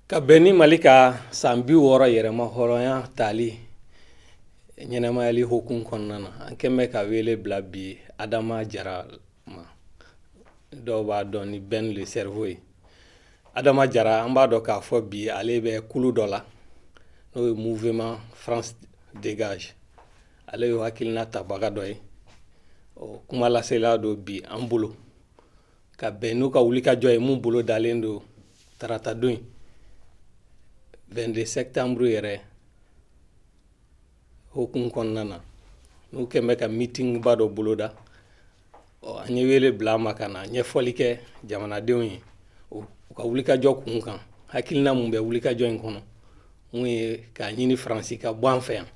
ka bɛn ni mali ka san bi wɔɔrɔ yɛrɛmahɔrɔnya tali ɲɛnamayali hukumu kɔnɔna na an kɛn bɛ ka wele bila bi adama jara ma dɔw b'a dɔn ni ben le cerveau ye adama jara an b'a dɔn k'a fɔ bi ale bɛ kulu dɔ la n'o ye mouvement france dégage ale y'o hakilina tabaga dɔ ye kumalasela don bi an bolo ka bɛn n'u ka wulikajɔ ye mun bolodalen don tarata don in 22 septembre yɛrɛ hukumu kɔnɔna na n'u kɛn bɛ ka mitingba dɔ boloda ɔ an ye wele bila a ma ka na ɲɛfɔli kɛ jamanadenw ye u ka wulikajɔ kun kan hakilina mun bɛ wulikajɔ in kɔnɔ mun ye k'a ɲini faransi ka bɔ an fɛ yan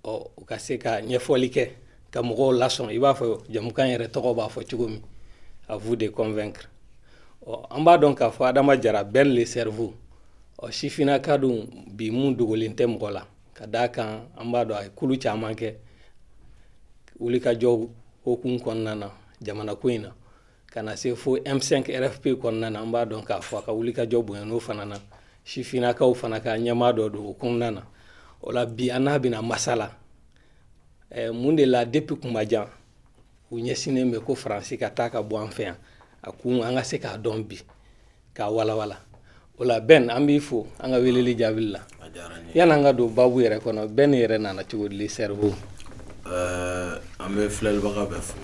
ɔ u ka se ka ɲɛfɔli kɛ ka mɔgɔw lasɔn i b'a fɔ jamukan yɛrɛ tɔgɔ b'a fɔ cogo min à vous de convaincre ɔ an b'a dɔn k'a fɔ adama jara ben le cerveau ɔ sifinnaka don bi mun dogolen tɛ mɔgɔ la ka d'a kan an b'a dɔn a ye kulu caman kɛ wulikajɔw hukumu kɔnɔna na jamanako in na Ka na se fo M5 RFP kɔnɔna na an b'a dɔn k'a fɔ a ka wulikajɔ bonyana o fana na sifinnakaw fana ka ɲɛmaa dɔ don o kɔnɔna na o la bi an n'a bɛna masala eh, mun de la depuis kuma jan u ɲɛsinnen bɛ ko faransi ka taa ka bɔ an fɛ yan a kun an ka se k'a dɔn bi k'a walawala o la ben an b'i fo an ka weleli jaabili la yani an ka don babu yɛrɛ kɔnɔ ben yɛrɛ nana cogo di le cerveau an bɛ filɛlibaga bɛɛ fo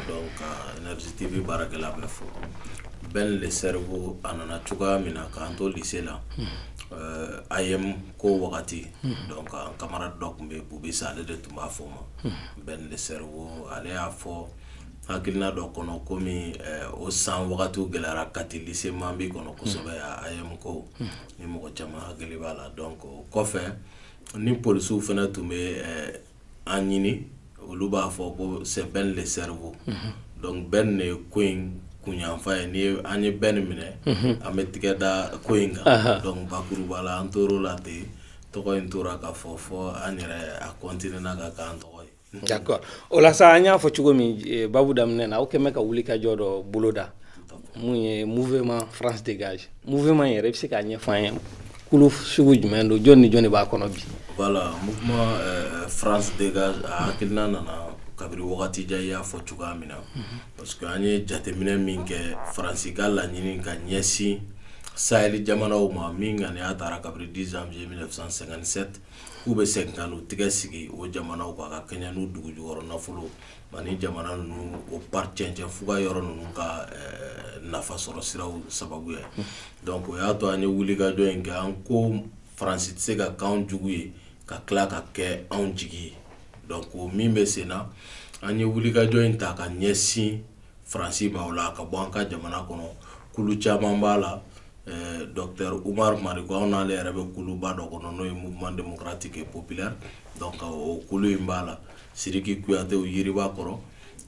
donc énergie tv baarakɛla bɛɛ fo ben le cerveau a nana cogoya min na k'an to lycée la AEEM ko wagati donc an camarade dɔ tun bɛ yen bubisa ale de tun b'a fɔ n ma ben le cerveau ale y'a fɔ hakilina dɔ kɔnɔ kɔmi o san wagatiw gɛlɛyara kati lycée mambi kɔnɔ kosɛbɛ AEEM ko ni mɔgɔ caman hakili b'a la donc o kɔfɛ ni polisiw fana tun bɛ an ɲini olu b'a fɔ ko c'est ben le cerveau donc ben de ye ko in kunyanfa ye ni an ye ben in minɛ an bɛ tɛgɛ da ko in kan donc bakuruba la an tora o la ten tɔgɔ in tora ka fɔ fo an yɛrɛ a continuera ka k'an tɔgɔ ye D'accord o la sa an y'a fɔ cogo min babu daminɛ na aw kɛlen bɛ ka wulikajɔ dɔ boloda mun ye mouvement france dégage mouvement yɛrɛ i bɛ se k'a ɲɛfɔ an ye kulu sugu jumɛn don jɔn ni jɔn de b'a kɔnɔ bi voilà mouvement france dégage a hakilina nana kabiri wagati jan i y'a fɔ cogoya min na parce que an ye jateminɛ min kɛ faransi ka laɲini ka ɲɛsin sahili jamanaw ma min ŋaniya taara kabiri 10 janvier 1957 k'u bɛ segin ka n'u tɛgɛ sigi o jamanaw kan ka kɛɲɛ n'u dugu jukɔrɔ nafolo ani jamana ninnu o ba cɛncɛn fuga yɔrɔ ninnu ka nafa sɔrɔ siraw sababu ye donc o y'a to an ye wulikajɔ in kɛ an ko faransi tɛ se ka k'an jugu ye ka tila ka kɛ anw jigi ye donc o min bɛ sen na an ye wulikajɔ in ta ka ɲɛsin faransi b'a la ka bɔ an ka jamana kɔnɔ caman b'a la u'ale yɛrɛ bɛ kuluba dɔ kɔnɔ n'o ye muma denmusokurati kɛ pop kulu in b'a la siriki kuyate yiriba kɔrɔ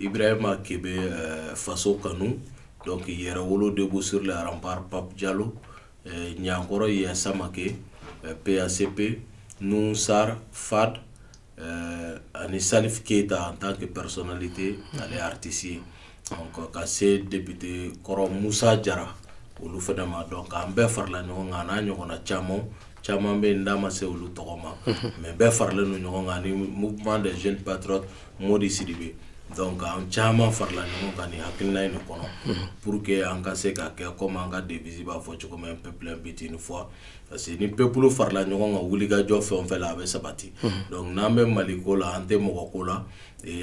i bɛ e ma ke bɛ faso kanu dɔnkuc k'i yɛrɛ wolo de bɛ sla aran pap jalo ɲkɔrɔ ye samakɛ peyase pe n sara fa ɛɛ ani salif keyita en tant que personnalité ale ye artiste ye donc ka se député kɔrɔ Musa Jara olu fana ma donc an bɛɛ farala ɲɔgɔn kan an'a ɲɔgɔnna camanw, caman bɛ yen n da ma se olu tɔgɔ ma mais bɛɛ faralen don ɲɔgɔn kan ani mouvement des jeunes patriotes Modi Sidibe donc an caman farala ɲɔgɔn kan nin hakilina in de kɔnɔ pour que an ka se ka kɛ comme an ka devise b'a fɔ cogo min un peuple, un but, une foi parce que ni peuple farala ɲɔgɔn kan wulikajɔ fɛn o fɛn la a bɛ sabati donc n'an bɛ mali ko la an tɛ mɔgɔ ko la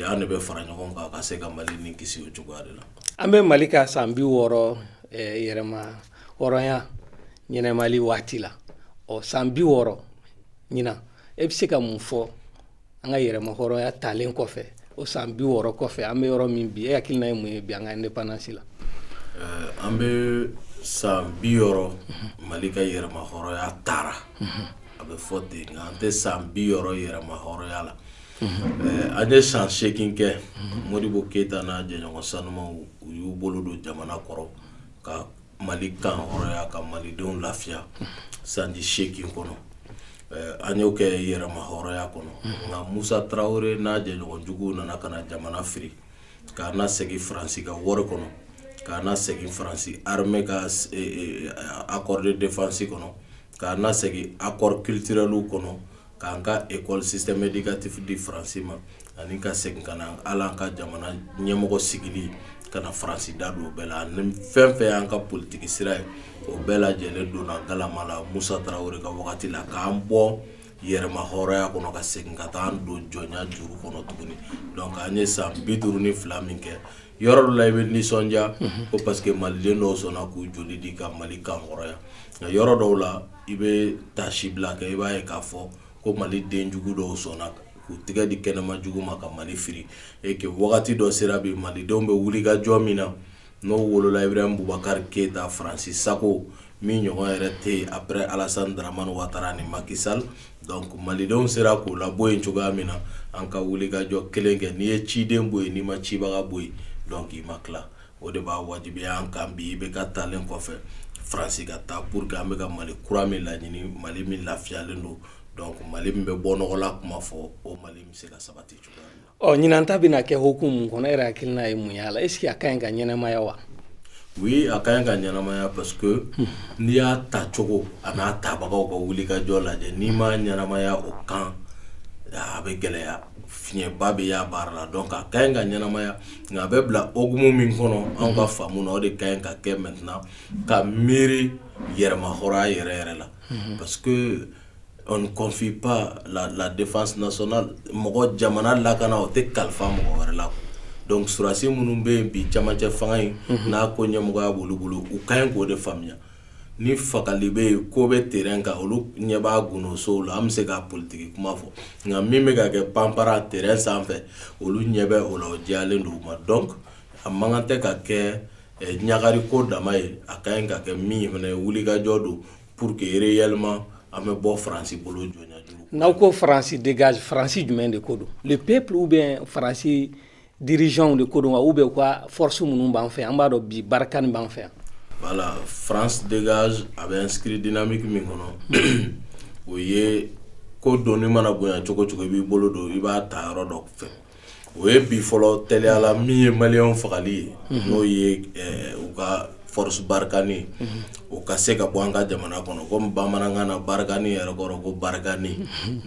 an de bɛ fara ɲɔgɔn kan ka se ka mali nin kisi o cogoya de la an bɛ mali ka san bi wɔɔrɔ yɛrɛma hɔrɔnya ɲɛnɛmali waati la o san bi wɔɔrɔ ɲinan e bɛ se ka mun fɔ an ka yɛrɛma hɔrɔnya talen kɔfɛ o san bi wɔɔrɔ kɔfɛ an bɛ yɔrɔ min bi e hakilina ye mun ye bi an ka indépendance la eh, an bɛ san bi wɔɔrɔ mali ka yɛrɛma hɔrɔnya tara a bɛ fɔ ten nka an tɛ san bi wɔɔrɔ yɛrɛma hɔrɔnya la eh, an ye san seegin kɛ modibo keyita n'a jɛɲɔgɔn sanumaw u y'u bolo don jamana kɔrɔ ka mali kan hɔrɔnya ka malidenw lafiya sanji seegin kɔnɔ an y'o kɛ yɛrɛma hɔrɔnya kɔnɔ nka musa tarawele n'a jɛɲɔgɔn juguw nana ka na jamana firi k'a na segin faransi ka wari kɔnɔ k'a na segin faransi armée ka accord de défense kɔnɔ k'a na segin accords culturels kɔnɔ k'an ka école système éducatif di faransi ma ani ka segin ka na hali an ka jamana ɲɛmɔgɔ sigili ka na faransi da don o bɛɛ la ani fɛn o fɛn y'an ka politigi sira ye o bɛɛ lajɛlen donna galama la musa tarawele ka wagati la k'an bɔ yɛrɛma hɔrɔnya kɔnɔ ka segin ka taa don jɔnya juru kɔnɔ tuguni donc an ye san bi duuru ni fila min kɛ yɔrɔ dɔ la i bɛ nisɔndiya mhm. ko parce que maliden dɔw sɔnna k'u joli di ka mali kan hɔrɔnya nka yɔrɔ dɔw la i bɛ taasibila kɛ i b'a ye k'a fɔ ko maliden jugu dɔw sɔnna k'u tɛgɛ di kɛnɛma jugu ma ka mali firi et que wagati dɔ sera bi malidenw bɛ wulikajɔ min na n'o wolola ibrahim bubakari keyita faransi sago min ɲɔgɔn yɛrɛ tɛ yen après Alasani Daramani Watara ni Maki Sali donc malidenw sera k'o labɔ yen cogoya min na, an ka wulikajɔ kelen kɛ, n'i ye ciden bɔ yen, n'i ma cibaga bɔ yen donc i ma tila, o de b'a wajibiya an kan bi IBK taalen kɔfɛ Faransi ka taa pour que an bɛ ka Mali kura min laɲini, Mali min lafiyalen don donc Mali min bɛ bɔ nɔgɔla kuma fɔ, o Mali in bɛ se ka sabati cogoya min na. Ɔ ɲinan ta bɛna kɛ hukumu mun kɔnɔ e yɛrɛ hakilina ye mun y'a la est-ce que a ka ɲi ka ɲɛnamaya wa oui a ka ɲi ka ɲɛnamaya parce que n'i y'a ta cogo a n'a tabagaw ka wulikajɔ lajɛ n'i ma ɲɛnamaya o kan a bɛ gɛlɛya fiɲɛba bɛ y'a baara la donc a ka ɲi ka ɲɛnamaya nka a bɛ bila hukumu min kɔnɔ an ka faamu na o de ka ɲi ka kɛ maintenant ka miiri yɛrɛmahɔrɔnya yɛrɛ yɛrɛ la parce confie pas la défense nationale mɔgɔ jamana lakana o tɛ kalifa mɔgɔ wɛrɛ la donc sɔrɔdasi minnu bɛ yen bi camancɛ fanga in n'a ko ɲɛmɔgɔya b'olu bolo u ka ɲi k'o de faamuya ni fagali bɛ yen ko bɛ terrain kan olu ɲɛ b'a gundo la an bɛ se ka politiki kuma fɔ nka min bɛ ka kɛ panpara terrain sanfɛ olu ɲɛ bɛ o la o diyalen don u ma donc a man kan tɛ ka kɛ ɲagari ko dama ye a ka ɲi ka kɛ min fana ye wulikajɔ don Pour que réellement an bɛ bɔ faransi bolo n'aw ko faransi dégage faransi jumɛn de ko don le peuple ou bien faransi dirigeantw de ko don wa ou bien u ka forosi minnu b'an fɛ an b'a dɔn bi barikani b'an fɛ yan voilà faransi dégage a bɛ inscrit dynamique min kɔnɔ o ye ko doni mana bonya cogo cogo i b'i bolo don i b'a ta yɔrɔ dɔ fɛ o ye bi fɔlɔ teliyala min ye maliyɛnw fagali ye n'o ye u ka forosi barikani o ka se ka bɔ an ka jamana kɔnɔ komi bamanankan na barikani yɛrɛ kɔrɔ ko barikani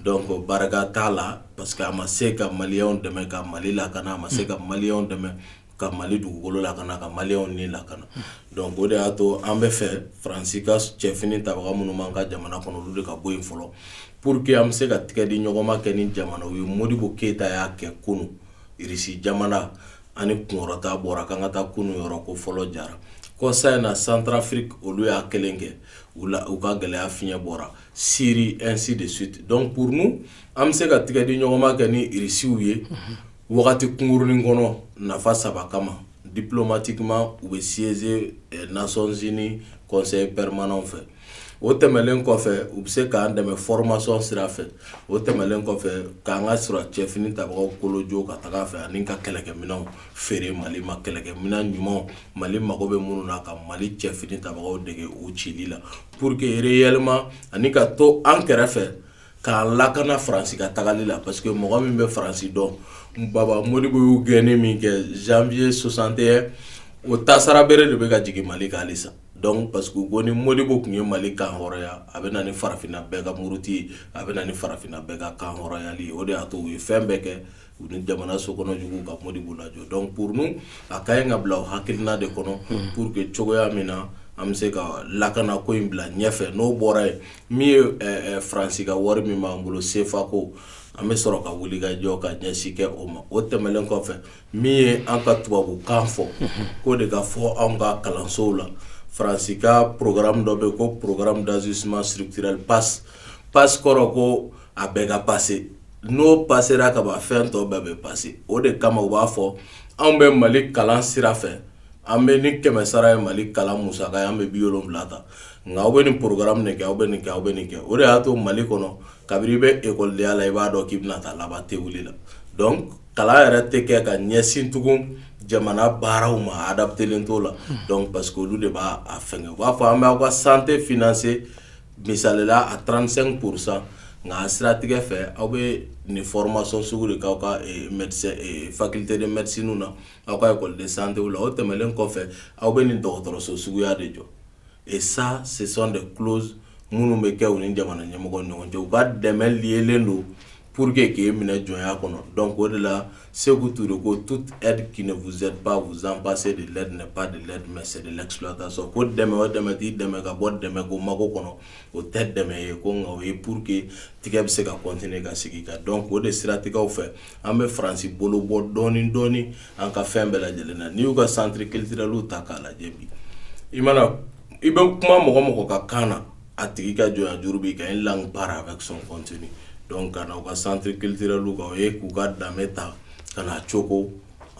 donc barika t'a la parce que a ma se ka maliyɛnw dɛmɛ ka mali lakana a ma se ka maliyɛnw dɛmɛ ka mali dugukolo lakana ka maliyɛnw ni lakana donc o de y'a to an b'a fɛ faransi ka cɛfini tabaga minnu b'an ka jamana kɔnɔ olu de ka bɔ yen fɔlɔ pour que an bɛ se ka tigɛ di ɲɔgɔnma kɛ ni jamanaw ye Modibo Keyita y'a kɛ kunun Irisi jamana ani kunkɔrɔta bɔra k'an ka taa kunun yɔrɔ ko fɔlɔ jara kɔsa in na Centrafrique olu y'a kelen kɛ u la u ka gɛlɛya fiɲɛ bɔra Siri ainsi de suite donc pour nous an bɛ se ka tigɛ di ɲɔgɔnma kɛ ni Irisiw ye wagati kunkurunnin kɔnɔ nafa saba kama diplomatiquement u bɛ siéger Nations Unies Conseil permanent fɛ o tɛmɛlen kɔfɛ u bɛ se k'an dɛmɛ formation sira fɛ o tɛmɛlen kɔfɛ k'an ka sɔrɔ cɛfini tabagaw kolonjo ka taga fɛ ani ka kɛlɛkɛminɛnw feere mali ma kɛlɛkɛminɛn ɲuman mali mago bɛ minnu na ka mali cɛfini tabagaw dege u cili la pour que réellement ani ka to an kɛrɛfɛ k'an lakana Faransi ka tagali la parce que mɔgɔ min bɛ Faransi dɔn Baba Modibo y'u gɛnni min kɛ janvier 61 o tasara bere de bɛ ka jigin Mali kan halisa donc parce que u ko ni Modibo tun ye Mali kan hɔrɔnya a bɛ na ni farafinna bɛɛ ka muruti ye a bɛ na ni farafinna bɛɛ ka kan hɔrɔnyali ye o de y'a to u ye fɛn bɛɛ kɛ u ni jamana sokɔnɔjugu ka Modibo lajɔ donc pour nous a ka ɲi ka bila o hakilina de kɔnɔ pour que cogoya min na an bɛ se ka lakana ko in bila ɲɛfɛ n'o bɔra yen min ye eh, eh, faransi ka wari min b'an bolo sefa ko an bɛ sɔrɔ ka wuli ka jɔ ka ɲɛsin kɛ o ma o tɛmɛlen kɔfɛ min ye an ka tubabukan fɔ k'o de ka fɔ anw ka kalansow la faransi ka programme dɔ bɛ yen ko programme d'ajustement structurel PAS PAS kɔrɔ ko a bɛɛ ka passer n'o passera ka ban fɛn tɔw bɛɛ bɛ passer o de kama u b'a fɔ anw bɛ mali kalan sira fɛ an bɛ ni kɛmɛ sara ye mali kalan musaka ye an bɛ bi wolonwula ta nka aw bɛ nin programme nin kɛ aw bɛ nin kɛ aw bɛ nin kɛ o de y'a to mali kɔnɔ kabini i bɛ ekɔlidenya la i b'a dɔn k'i bɛna taa laban te wuli la donc kalan yɛrɛ tɛ kɛ ka ɲɛsin tugun jamana baaraw ma adaptelen t'o la parce que olu de b'a fɛ u b'a fɔ an bɛ aw ka santé financer misalila a 35% nka a siratigɛ fɛ aw bɛ nin formation sugu de k'aw ka faculté de médecinew na aw ka école de santé la o tɛmɛnlen kɔfɛ aw bɛ nin dɔgɔtɔrɔso suguya de jɔ et ça ce sont des clauses minnu bɛ kɛ u ni jamana ɲɛmɔgɔ ɲɔgɔn cɛ u ka dɛmɛ lielen don Pur que k'e minɛ jɔnya kɔnɔ dɔn o de la segu tu de ko tu wzpzpse de la ba de la sɛ la tan sɔn ko dɛmɛ o dɛmɛ t'i dɛmɛ ka bɔ dɛmɛ ko mago kɔnɔ o tɛ dɛmɛ ye ko nka o ye pur que tigɛ bɛ se ka kɔnt ka sigi ka dɔn o de siratigɛw fɛ an bɛ faransi bolo bɔ dɔɔnin dɔɔninɔni an ka fɛn bɛɛ lajɛlen na n'i y'u ka santiriri kelen kelenli ta k'a lajɛ i mana I bɛ kuma mɔgɔ mɔgɔ ka kan na a tigi ka jɔnya juru b'i kan une langue part avec son contenu donc ka na u ka centre culturelw kan ye k'u ka danbe ta ka na coko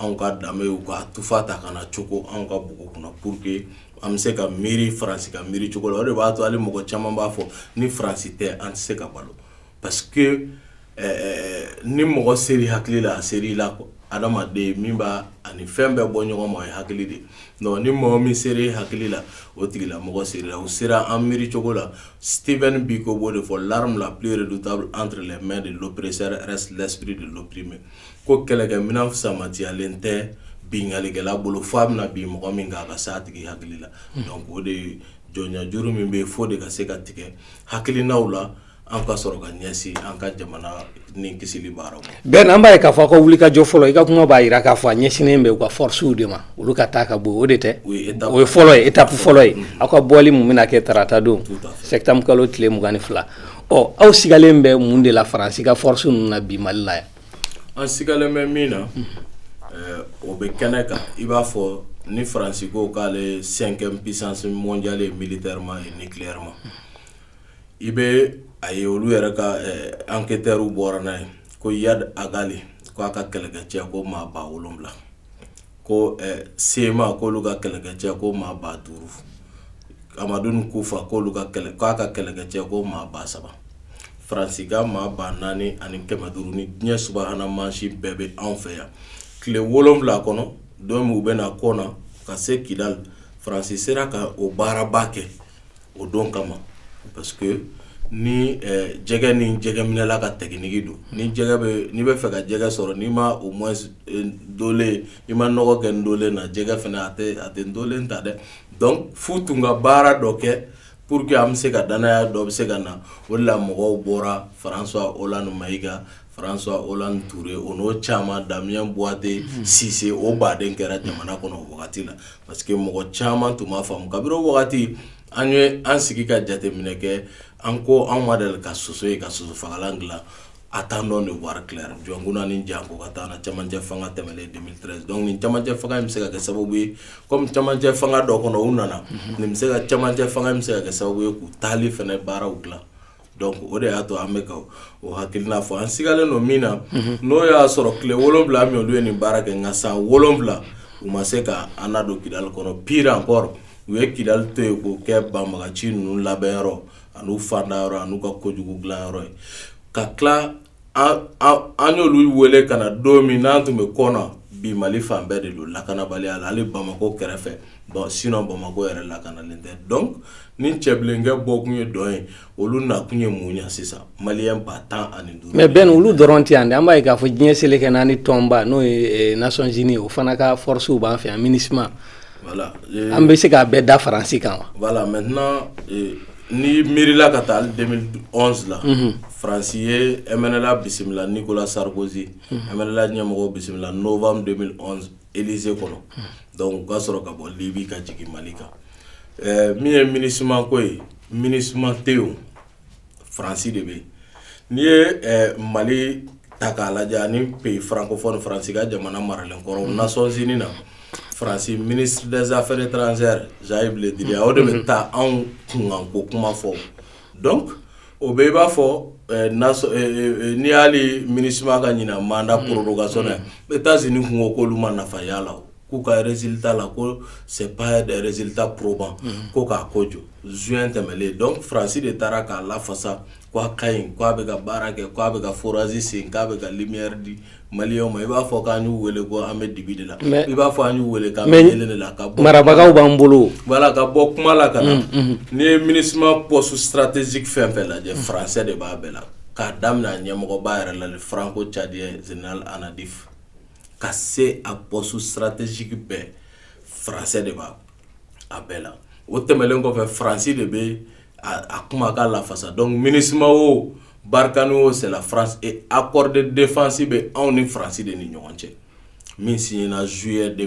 anw ka danbe u ka tufa ta ka na coko anw ka bugu kunna pour que an bɛ se ka miiri faransi ka miiri cogo la o de b'a to hali mɔgɔ caman b'a fɔ ni faransi tɛ an tɛ se ka balo parce que ɛɛ ni mɔgɔ sera i hakili la, a sera i la quoi adamaden min b'a ani fɛn bɛɛ bɔ ɲɔgɔn ma o ye hakili de ye donc ni mɔgɔ min sera e hakili la, o tigila mɔgɔ sera i la, o sera an miiri cogo la Stephen Biko b'o de fɔ l'arme la plus redoutable entre les mains de l'oppresseur reste l'esprit de l'opprimé ko kɛlɛkɛminɛn fusamatiyalen tɛ binkannikɛla bolo f'a bɛna bin mɔgɔ min kan a ka se a tigi hakili la donc o de ye jɔnya juru min bɛ yen f'o de ka se ka tigɛ hakilinaw la an ka sɔrɔ ka ɲɛsin an ka jamana ni kisili baaraw ben an b'a ye k'a fɔ ka wuli ka jɔ fɔlɔ i ka kuma b'a jira k'a fɔ a ɲɛsinnen bɛ u ka fɔsiw de ma olu ka taa ka bɔ o de tɛ o ye fɔlɔ ye étape fɔlɔ ye aw ka bɔli min bɛna kɛ tarata don sɛtanburu kalo tile mugan ni fila ɔ aw sigalen bɛ mun de la faransi ka fɔsiw ninnu na bi mali la yan an sigalen bɛ min na o bɛ kɛnɛ kan i b'a fɔ ni faransi ko k'ale cinquième puissance mondiale ye militairement et nucléairement i bɛ a ye olu yɛrɛ ka enquêteurs bɔra n'a ye ko iyad ag ghali k'a ka kɛlɛkɛcɛ ko maa ba wolonwula ko cma ko olu ka kɛlɛkɛcɛ ko maa ba duuru amadu kufa ko olu kɛlɛ k'a ka kɛlɛkɛcɛ ko maa ba saba faransi ka maa ba naani ani kɛmɛ duuru ni diɲɛ subahana mansin bɛɛ bɛ anw fɛ yan tile wolonwula kɔnɔ don min u bɛ na kɔna ka se kidali faransi sera ka o baaraba kɛ o don kama parce que ni jɛgɛ ni jɛgɛminɛla ka technique don n'i b'a fɛ ka jɛgɛ sɔrɔ n'i ma au moins dolen i ma nɔgɔ kɛ ndolen na jɛgɛ fana a a tɛ ndolen ta dɛ f'u tun ka baara dɔ kɛ pour que an bɛ se ka dannaya dɔ bɛ se ka na o la mɔgɔw bɔra françois hollande mayiga françois hollande ture o n'o caman damien boiteux sise o baden kɛra jamana kɔnɔ o wagati la parce que mɔgɔ caman tun m'a faamu kabini o wagati an ye an sigi ka jateminɛ kɛ an ko anw ma deli ka soso ye ka soso fagalan dilan attendons de voir clair jɔnkunda ni jango ka temps na camancɛ fanga tɛmɛnen 2013 donc nin camancɛ fanga in bɛ se ka kɛ sababu ye comme camancɛ fanga dɔ kɔnɔ u nana nin bɛ se ka camancɛ fanga in bɛ se ka kɛ sababu ye k'u taali fana baaraw dilan donc o de y'a to an bɛ ka o hakilina fɔ an sigalen don min na n'o y'a sɔrɔ tile wolonwula min olu ye nin baara kɛ nka san wolonwula u ma se ka an nadon kidali kɔnɔ pire encore u ye kidali to yen k'o kɛ banbaganci ninnu labɛnyɔrɔ an'u fandayɔrɔ an'u ka kojugu dilanyɔrɔ ye ka tila an y'olu wele ka na don min n'an tun bɛ kɔna bi mali fan bɛɛ de don lakanabaliya la hali bamakɔ kɛrɛfɛ sinon bamakɔ yɛrɛ lakanalen tɛ donc ni cɛbilenkɛ bɔkun ye dɔn ye olu nakun ye mun ɲɛ sisan maliyɛn ba tan ani duuru mais ben olu dɔrɔn tɛ yan dɛ an b'a ye k'a fɔ diɲɛ seleke naani tɔnba n'o ye nations unies o fana ka fɔrɔsiw b'an fɛ yan minusma voilà an bɛ se k'a bɛɛ da faransi kan wa voilà mɛ N'i miirila ka taa 2011 la faransi ye mnla bisimila nicolas sarkozy mnla ɲɛmɔgɔ bisimila novembre 2011 élysée kɔnɔ donc u ka sɔrɔ ka bɔ libi ka jigin mali kan min ye minusma ko ye minusma tɛ yen faransi de bɛ yen n'i ye mali ta k'a lajɛ ni pays francophone faransi ka jamana maralen kɔrɔ nations unies na farasi minidsaɛrɛ taararansɛzsayibilenlidi o de bɛ taa anw kunko kuma fɔ dɔn o bɛ i b'a fɔ n'i y'ale mini ka ɲin mada porokanso n bɛ taa z kungo koolu ma nafaya la k'u ka rez ta la ko sɛ yɛrɛrezeta poroban ko k'a ko jɔ z tɛmɛlen dɔn farasi de taara k'a lafasa k' a ka ɲi k' a bɛ ka baara kɛ k' a bɛ ka forage sen k'a bɛ ka lumière di maliyɛnw ma i b'a fɔ k'an y'u weele ko an bɛ dibi de la mais i b'a fɔ an y'u weele k'an bɛ kɛlɛ de la ka marabagaw b'an bolo voilà ka bɔ kuma la ka na n'i ye MINUSMA poste stratégique fɛn fɛn lajɛ faransɛ de b'a bɛɛ la k'a daminɛ a ɲɛmɔgɔba yɛrɛ la le franco-tchadien général Anadif ka se a poste stratégique bɛɛ faransɛ de b'a a bɛɛ la o tɛmɛnlen kɔfɛ faransi de bɛ a kuma k'a lafasa dɔn minima o barika n' o sera a kɔrɔɔri defasi bɛ anw ni farasi de ni ɲɔgɔn cɛ min si na zuye de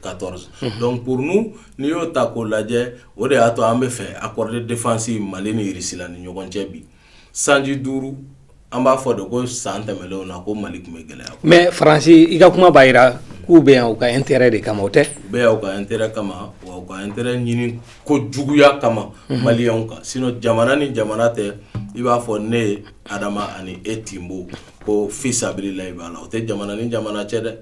ka tɔɔrɔ dɔnkuc kurun n'i y'o ta k'o lajɛ o de y'a to an bɛ fɛ a kɔrɔɔri defasi mali nila ni ɲɔgɔn cɛ bi sanji duuru An b'a fɔ de ko san tɛmɛnlenw na ko mali tun bɛ gɛlɛya mais faransi i ka kuma b'a jira k'u bɛ yan u ka intérêt de kama o tɛ u bɛ yan u ka intérêt kama wa u ka intérêt ɲini kojuguya kama maliyɛnw kan sinon jamana ni jamana tɛ i b'a fɔ ne ye adama ani e tinbo ko fisabililayi b'a la o tɛ jamana ni jamana cɛ dɛ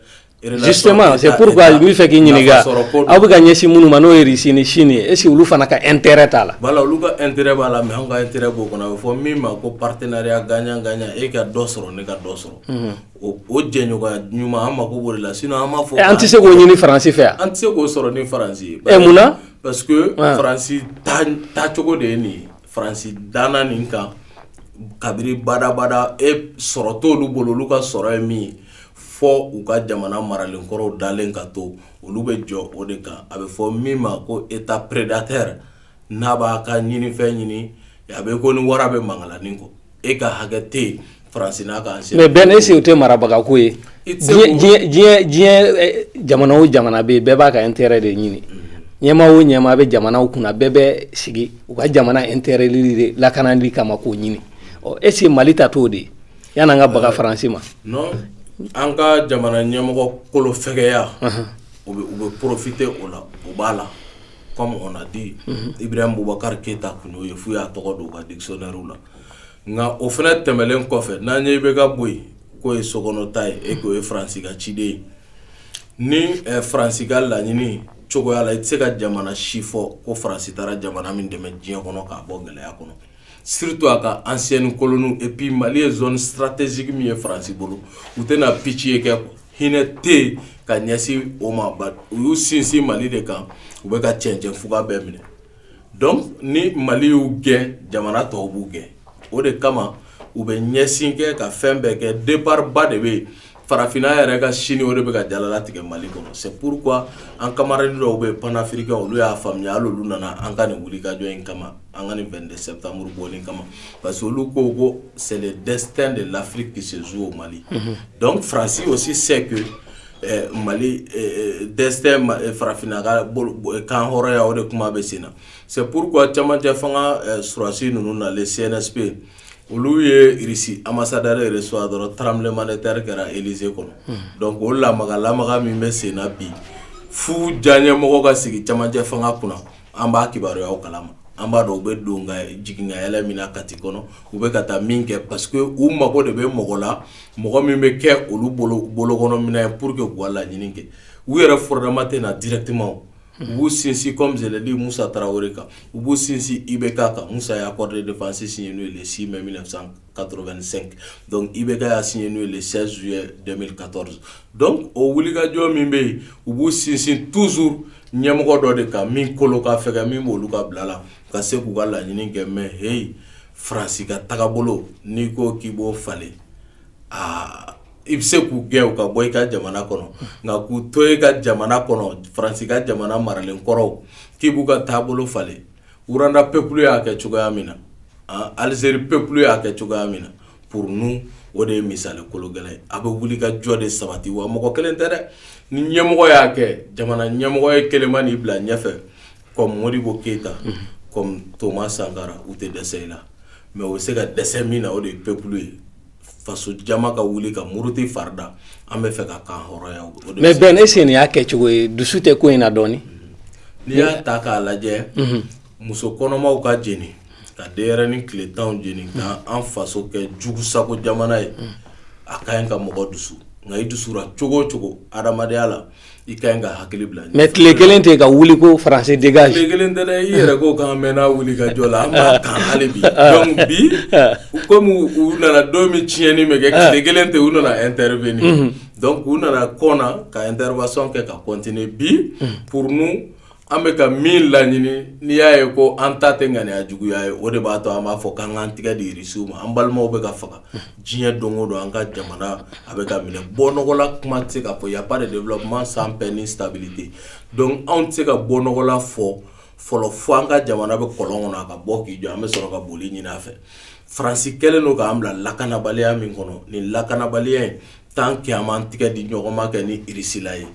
justement c'est pourquoi n bɛ fɛ k'i ɲininka aw bɛ ka ɲɛsin minnu ma n'o ye irisi ni sini ye est-ce que olu fana ka intérêt t'a la voilà olu ka intérêt b'a la mais an ka intérêt b'o kɔnɔ a bɛ fɔ min ma ko partenariat gagnant-gagnant e ka dɔ sɔrɔ ne ka dɔ sɔrɔ o o jɛɲɔgɔnya ɲuman an mako b'o de la sinon an b'a fɔ an tɛ se k'o ɲini faransi fɛ an tɛ se k'o sɔrɔ ni faransi ye munna parce que faransi taacogo de ye nin ye faransi danna nin kan kabini badabada e sɔrɔ t'olu bolo olu ka sɔrɔ ye min ye fɔ u ka jamana maralen kɔrɔw dalen ka to olu bɛ jɔ o de kan a bɛ fɔ min ma ko État prédateur n'a b'a ka ɲinifɛn ɲini a bɛ ko ni wara bɛ mankalanin kɔ e ka hakɛ tɛ faransi n'a kan mais Ben est-ce que o tɛ marabagako ye diɲɛ jamana o jamana bɛ yen bɛɛ b'a ka intérêt de ɲini ɲɛmaa o ɲɛmaa bɛ jamanaw kunna bɛɛ bɛ sigi u ka jamana intérêt de lakanali kama k'o ɲini ɔ est-ce que mali ta t'o de ye Yann'an ka baga faransi ma non an ka jamana ɲɛmɔgɔ kolofɛgɛya u bɛ profiter o la o b'a la comme on a dit Ibrahim bubakari keyita tun y'o ye f'u y'a tɔgɔ don u ka dictionnaire la nka o fana tɛmɛlen kɔfɛ n'an ɲɛ bɛ ka bɔ yen k'o ye sokɔnɔ ta ye e k'o ye faransi ka ciden ye ni faransi ka laɲini cogoya la i tɛ se ka jamana si fɔ ko faransi taara jamana min dɛmɛ diɲɛ kɔnɔ k'a bɔ gɛlɛya kɔnɔ surtout a ka ancienne colonie et puis mali ye zone stratégique min ye faransi bolo u tɛna pitié kɛ hinɛ tɛ ka ɲɛsin o ma u y'u sinsin mali de kan u bɛ ka cɛncɛn fuga bɛɛ minɛ donc ni mali y'u gɛn jamana tɔw b'u gɛn o de kama u bɛ ɲɛsin kɛ ka fɛn bɛɛ kɛ débat ba de bɛ yen farafinna yɛrɛ ka sini o de bɛ ka jalala tigɛ mali kɔnɔ c'est pourquoi an camarade dɔw bɛ panafricain olu y'a faamuya hali olu nana an ka nin wulikajɔ in kama an ka nin 22 septembre bɔli kama parce que olu ko ko c'est le destin de l'Afrique qui se joue au Mali donc France aussi sait que eh, Mali eh, eh, destin ma- eh, farafinna ka bolo- bo- eh, kan hɔrɔnya o de kuma bɛ sen na c'est pourquoi camancɛ fanga eh, surasi ninnu nalen CNSP Olu ye Russie ambassadeur reçu dɔrɔn tremblement de terre kɛra Élysée kɔnɔ donc o lamaga-lamaga min bɛ sen na bi f'u diyanyemɔgɔ ka sigi camancɛ fanga kunna an b'a kibaruyaw kalama an b'a dɔn u bɛ don jigin ka yɛlɛ min na kati kɔnɔ u bɛ ka taa min kɛ parce que u mago de bɛ mɔgɔ la mɔgɔ min bɛ kɛ olu bolo kɔnɔ minɛn ye pour k'u laɲini kɛ u yɛrɛ fɔrɔdama tɛ na directement u b'u sinsin comme je l'ai dit musa tarawele kan u b'u sinsin IBK kan musa ye accord de défense signé n'o ye le 6 mai 1985 donc IBK y'a signé n'o ye le 16 juillet 2014 donc o wulikajɔ min bɛ yen u b'u sinsin toujours ɲɛmɔgɔ dɔ de kan min kolo ka fɛgɛn min bɛ olu ka bila la ka se k'u ka laɲini kɛ mais heyi faransi ka tagabolo n'i ko k'i b'o falen aa i bɛ se k'u gɛn u ka bɔ i ka jamana kɔnɔ nka k'u to e ka jamana kɔnɔ faransi ka jamana maralen kɔrɔw k'i b'u ka taabolo falen Rwanda peuple y'a kɛ cogoya min na Algérie peuple y'a kɛ cogoya min na pour nous o de ye misali kologɛlɛn ye a bɛ wuli ka jɔ de sabati wa mɔgɔ kelen tɛ dɛ ni ɲɛmɔgɔ y'a kɛ jamana ɲɛmɔgɔ ye kelenma nii bila ɲɛfɛ kɔmi modibo keyita kɔmi toma sankara u tɛ dɛsɛ i la mais u bɛ se ka dɛsɛ min na o de ye peuple ye faso jama ka wuli ka muruti farida an bɛ fɛ ka kan hɔrɔnya mais Ben est-ce que nin y'a kɛ cogo ye dusu tɛ ko in na dɔɔnin n'i y'a ta k'a lajɛ muso kɔnɔmaw ka jeni ka denyɛrɛnin tile tan jeni ka an faso kɛ jugu sago jamana ye a ka ɲi ka mɔgɔ dusu nka i dusura cogo o cogo hadamadenya la I ka ɲi ka hakili bila mais tile kelen tɛ ka wuli ko faransi dégage tile kelen tɛ dɛ i yɛrɛ ko k'an mɛnna wuli ka jɔ la an b'a kan hali bi donc bi kɔmi u nana don min tiɲɛni bɛ kɛ tile kelen tɛ u nana intervenir donc u nana kɔn ka intervention kɛ ka continuer bi pour nous an bɛ ka min laɲini n'i y'a ye ko an ta tɛ ŋaniya juguya ye o de b'a to an b'a fɔ k'an k'an tɛgɛ di irisiw ma an balimaw bɛ ka faga diɲɛ don o don an ka jamana a bɛ ka minɛ bɔnɔgɔla kuma tɛ se ka fɔ y a pas de développement sans paix ni stabilité donc anw tɛ se ka bɔnɔgɔla fɔ fɔlɔ fo an ka jamana bɛ kɔlɔn kɔnɔ a ka bɔ k'i jɔ an bɛ sɔrɔ ka boli ɲini a fɛ faransi kɛlen don k'an bila lakanabaliya min kɔnɔ nin lakanabaliya in tant que an m'an tɛgɛ di ɲɔgɔn ma kɛ ni irisila ye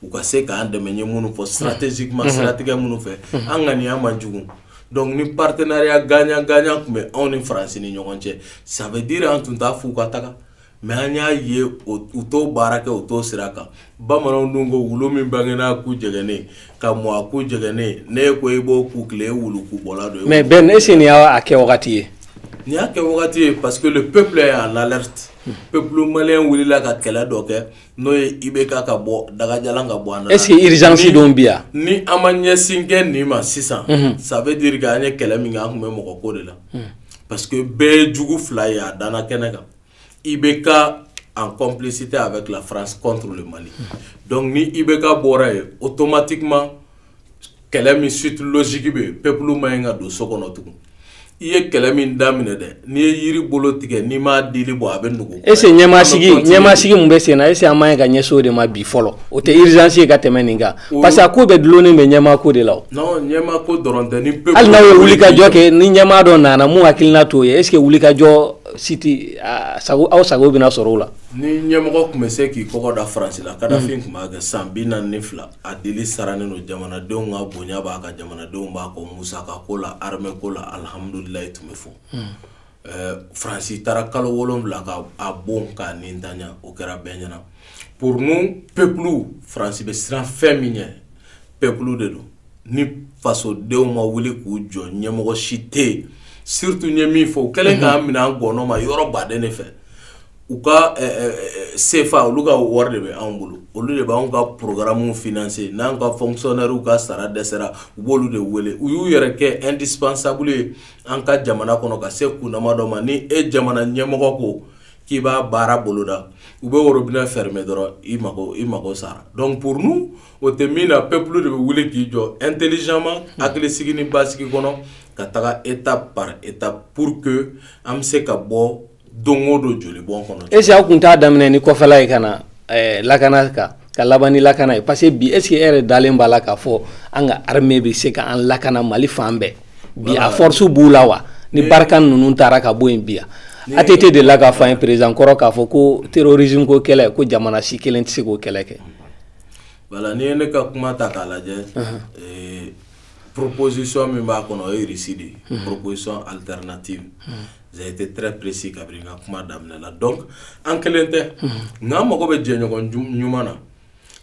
u ka se k'an dɛmɛ ye minnu fɔ stratégiquement siratigɛ minnu fɛ an ŋaniya man jugu donc ni partenariat gagnant-gagnant tun bɛ anw ni faransi ni ɲɔgɔn cɛ ça veut dire an tun t'a f'u ka taga mais an y'a ye u t'o baara kɛ u t'o sira kan bamananw dun ko wulu min bangena ku jɛgɛnnen ka mɔ a ku jɛgɛnnen ni e ko e b'o ku tilen e wulu ku bɔ don mais ben est-ce que nin y'a kɛ wagati ye nin y'a kɛ wagati ye parce que le peuple est en alerte peuple malien wulila ka kɛlɛ dɔ kɛ n'o ye i bɛ ka ka bɔ dagaja ka bɔ an ese irizsidon bi yan ni an ma ɲɛsinkɛ nin ma sisan sanfɛ di an ye kɛlɛ min an tun bɛ mɔgɔ ko de la pa que bɛɛ ye jugu fila ye a dan kɛnɛ kan i bɛ ka an kɔnplisi tɛ a bɛ tila faransi kɔntu mali dɔnkuc ni i bɛ ka bɔra ye o tomati kuma kɛlɛ min suite logique bɛ peuple man ɲi ka don so kɔnɔ tugun i ye kɛlɛ min daminɛ dɛ n'i ye yiri bolo tigɛ n'i m'a dili bɔ a bɛ nugu est-ce que ɲɛmasigi ɲɛmasigi min bɛ sen na est-ce que an man ɲi ka ɲɛsin o de ma bi fɔlɔ o tɛ urgence ye ka tɛmɛ nin kan parce que a ko bɛɛ dulonnen bɛ ɲɛmaako de la ɲɛmaako dɔrɔn tɛ ni peuple hali n'aw ye wulikajɔ kɛ ni ɲɛmaa dɔ nana min hakilina t'o ye est-ce que wulikajɔ siti sago aw sago bɛna sɔrɔ o la ni ɲɛmɔgɔ tun bɛ se k'i kɔgɔ da faransi la kadafi tun b'a kɛ san bi naani ni fila A dili sarannen don jamanadenw ka bonya b'a kan jamanadenw b'a kɔ musakako la armée ko la alihamdulilayi tun bɛ fɔ faransi taara kalo wolon wolonwula ka a bon k'a nin ta o kɛra bɛɛ ɲɛna pour nous peuple faransi bɛ siran fɛn min ɲɛ peuple de don ni fasodenw ma wuli k'u jɔ ɲɛmɔgɔ si tɛ yen surtout n ye min fɔ u kɛlen k'an minɛ an ngɔnɔ ma yɔrɔ baden de fɛ u ka CFA olu ka wari de bɛ anw bolo olu de b'an ka programme financer n'an ka fonctionnaires ka sara dɛsɛra u b'olu de wele u y'u yɛrɛ kɛ indispensable ye an ka jamana kɔnɔ ka se kundama dɔ ma ni e jamana ɲɛmɔgɔ ko k'i b'a baara boloda u bɛ robinet fermer dɔrɔn i mako i mako sara donc pour nous o tɛ min na peuple de bɛ wuli k'i jɔ intelligemment hakilisigi ni basigi kɔnɔ ka taga étape par étape pour que an bɛ se ka bɔ don o don joli bɔn kɔnɔ est-ce que aw tun t'a daminɛ ni kɔfɛla ye ka na lakana kan ka laban ni lakana ye parce que bi est-ce que e yɛrɛ dalen b'a la k'a fɔ an ka armée bɛ se k'an lakana mali fan bɛɛ bi a force b'u la wa ni Barkhane ninnu taara ka bɔ yen bi ATT de la k'a fɔ an ye président kɔrɔ k'a fɔ ko terrorisme ko kɛlɛ ko jamana si kelen tɛ se k'o kɛlɛ kɛ voilà n'i ye ne ka kuma ta k'a lajɛ proposition min b'a kɔnɔ o ye Russie de ye proposition alternative été très précis kabiri n ka kuma daminɛ la donc an kelen tɛ nka an mago bɛ jɛɲɔgɔn ɲuman na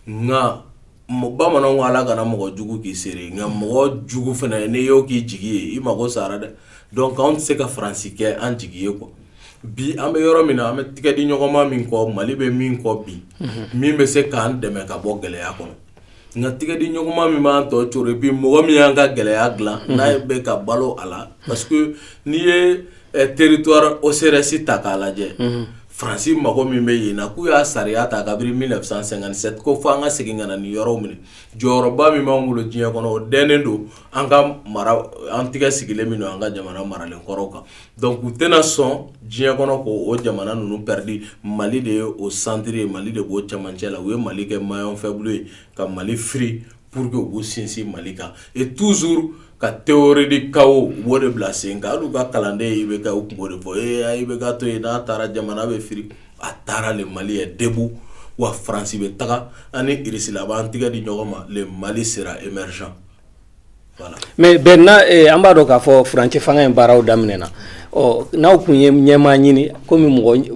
nka bamananw ko ala kana mɔgɔ jugu k'i seere nka mɔgɔ jugu fana n'i y'o k'i jigi ye i mago sara dɛ donc anw tɛ se ka faransi kɛ an jigi ye quoi bi an bɛ yɔrɔ min na an bɛ tɛgɛ di ɲɔgɔnma min kɔ mali bɛ min kɔ bi min bɛ se k'an dɛmɛ ka bɔ gɛlɛya kɔnɔ nka tɛgɛ di ɲɔgɔnma min b'an tɔ coro et puis mɔgɔ min y'an ka gɛlɛya dilan n'a ye bɛ ka balo a la parce que n'i ye territoire OCRS ta k'a lajɛ faransi mago min bɛ yen na k'u y'a sariya ta kabiri mille neuf cent cinquante-sept ko fo an ka segin ka na nin yɔrɔw minɛ jɔyɔrɔba min b'an bolo diɲɛ kɔnɔ o dɛnnen don an ka mara an tɛgɛ sigilen min don an ka jamana maralen kɔrɔw kan Donc u tɛna sɔn diɲɛ kɔnɔ ko o jamana ninnu perdi mali de ye o centre ye mali de b'o cɛmancɛ la u ye mali kɛ maillon faible ye ka mali firi pour que u b'u sinsin mali kan et toujours ka théorie du chaos o de bila sen kan hali u ka kalanden IBK u kun b'o de fɔ IBK to yen n'a taara jamana bɛ firi a taara le mali est debout wa faransi bɛ taga ani irisila b'an tɛgɛ di ɲɔgɔn ma le mali sera émergent Mais Ben an b'a dɔn k'a fɔ furancɛ fanga in baaraw daminɛna ɔ n'aw tun ye ɲɛmaa ɲini kɔmi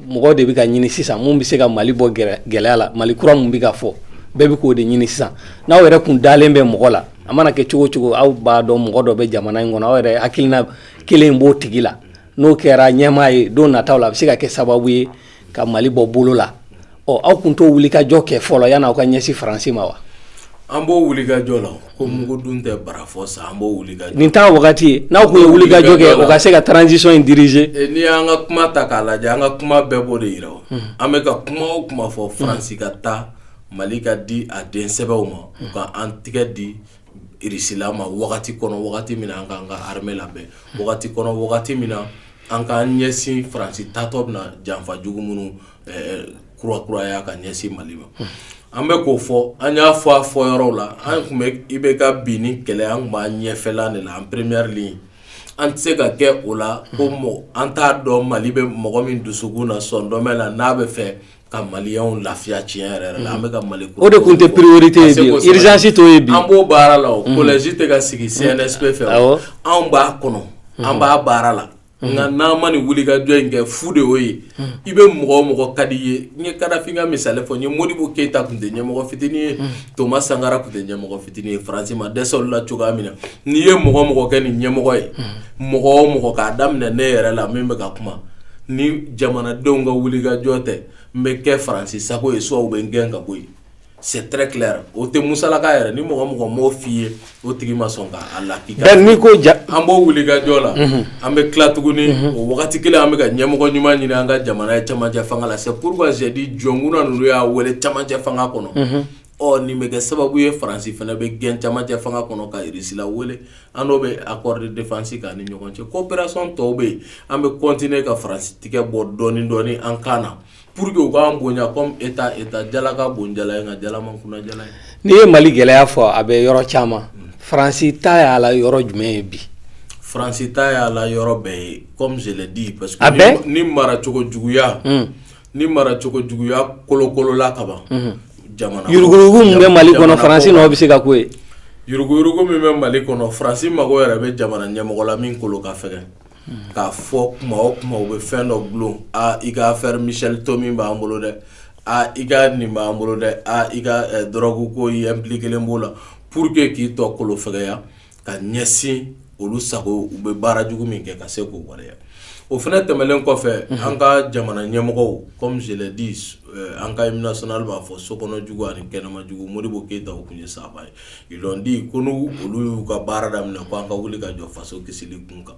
mɔgɔ de bɛ ka ɲini sisan min bɛ se ka mali bɔ gɛlɛya la mali kura min bɛ ka fɔ bɛɛ bɛ k'o de ɲini sisan n'aw yɛrɛ tun dalen bɛ mɔgɔ la a mana kɛ cogo cogo aw b'a dɔn mɔgɔ dɔ bɛ jamana in kɔnɔ aw yɛrɛ hakilina kelen b'o tigi la n'o kɛra ɲɛmaa ye don nataw la a bɛ se ka kɛ sababu ye ka mali bɔ bolo la ɔ aw tun t'o wulikajɔ kɛ fɔlɔ yanni aw ka ɲɛsin faransi ma wa an b'o wulikajɔ la ko mugu dun tɛ barafɔ sa an b'o nin t'a wagati ye n'aw tun ye wulikajɔ kɛ o ka se ka transition in diriger eh, n'i y'an ka kuma ta k'a lajɛ an ka kuma bɛɛ b'o de yira hmm. an bɛ ka kuma o kuma fɔ faransi ka taa mali ka di a den sɛbɛw ma u ka an tɛgɛ di irisila ma wagati kɔnɔ wagati min an k'an ka armée labɛn wagati kɔnɔ wagati min na An k'an ɲɛsin faransi taatɔ bɛna janfa jugu minnu kura kuraya ka ɲɛsin mali ma an bɛ k'o fɔ an y'a fɔ a fɔyɔrɔw la an tun bɛ IBK binni kɛlɛ an tun b'a ɲɛfɛla de la en première ligne an tɛ se ka kɛ o la ko an t'a dɔn mali bɛ mɔgɔ min dusukun na sɔndɔmɛ na n'a bɛ fɛ ka mali lafiya tiɲɛ yɛrɛ la an bɛ ka mali o de tun tɛ priorité ye urgence t'o ye an b'o baara la o collège tɛ ka sigi CNSP fɛ anw b'a kɔnɔ an b'a baara la nka n'an ma nin wuli ka jɔ in kɛ fu de y'o ye i bɛ mɔgɔ o mɔgɔ ka di ye n ye kadafi ka misali fɔ n ye modibo keyita tun tɛ ɲɛmɔgɔ fitinin ye toma sankara tun tɛ ɲɛmɔgɔ fitinin ye faransi ma dɛsɛ olu la cogoya min na n'i ye mɔgɔ o mɔgɔ kɛ nin ɲɛmɔgɔ ye mɔgɔ o mɔgɔ k'a daminɛ ne yɛrɛ la min bɛ ka kuma ni jamanadenw ka wuli ka jɔ tɛ n bɛ kɛ faransi sago ye soit u bɛ n gɛn ka bɔ yen c'est très clair o tɛ musalaka yɛrɛ ni mɔgɔ mɔgɔ m'o f'i ye o tigi ma sɔn k'a lakika n'i ko ja an b'o wuli ka jɔ la an bɛ tila tuguni o waati kelen an bɛ ka ɲɛmɔgɔ ɲuman ɲini an ka jamana ye camancɛ fanga la c'est pourquoi j'ai dit jɔnkun ninnu y'a weele camancɛ fanga kɔnɔ ɔ nin bɛ kɛ sababu ye faransi fana bɛ gɛn camancɛ fanga kɔnɔ ka russie la wele an n'o bɛ accord de défense k'an ni ɲɔgɔn cɛ coopération tɔw bɛ yen an bɛ continuer ka faransi tigɛ bɔ dɔɔni dɔɔni an kan na pour que u k'an bonya comme état état jala ka bon jala ye nka jala man kunan jala ye n'i ye mali gɛlɛya fɔ a bɛ yɔrɔ caman faransi ta y'a la yɔrɔ jumɛn ye bi faransi ta y'a la yɔrɔ bɛɛ ye comme je l'ai dit parce que ni maracogo juguya ni mara cogo juguya kolokolola kaban jamana yuruguyurugu min bɛ mali kɔnɔ faransi bɛ se ka k'o ye yuruguyurugu min bɛ mali kɔnɔ faransi mago yɛrɛ bɛ jamana ɲɛmɔgɔ la min kolo ka fɛgɛn k'a fɔ kuma o kuma u bɛ fɛn dɔ bulon i ka affaire michel tomi b'an bolo dɛ aa i ka nin b'an bolo dɛ i ka drogue ko i impliquélen b'o la pour que k'i tɔ kolo fɛgɛya ka ɲɛsin olu sago u bɛ baara jugu min kɛ ka se k'o waleya o fana tɛmɛnen kɔfɛ an ka jamana ɲɛmɔgɔw comme je l'ai dit an ka hymne national b'a fɔ so kɔnɔ jugu ani kɛnɛma jugu modibo keyita tun ye sahaba ye ils l'ont dit ko n'olu y'u ka baara daminɛ k'an ka wuli ka jɔ faso kisili kun kan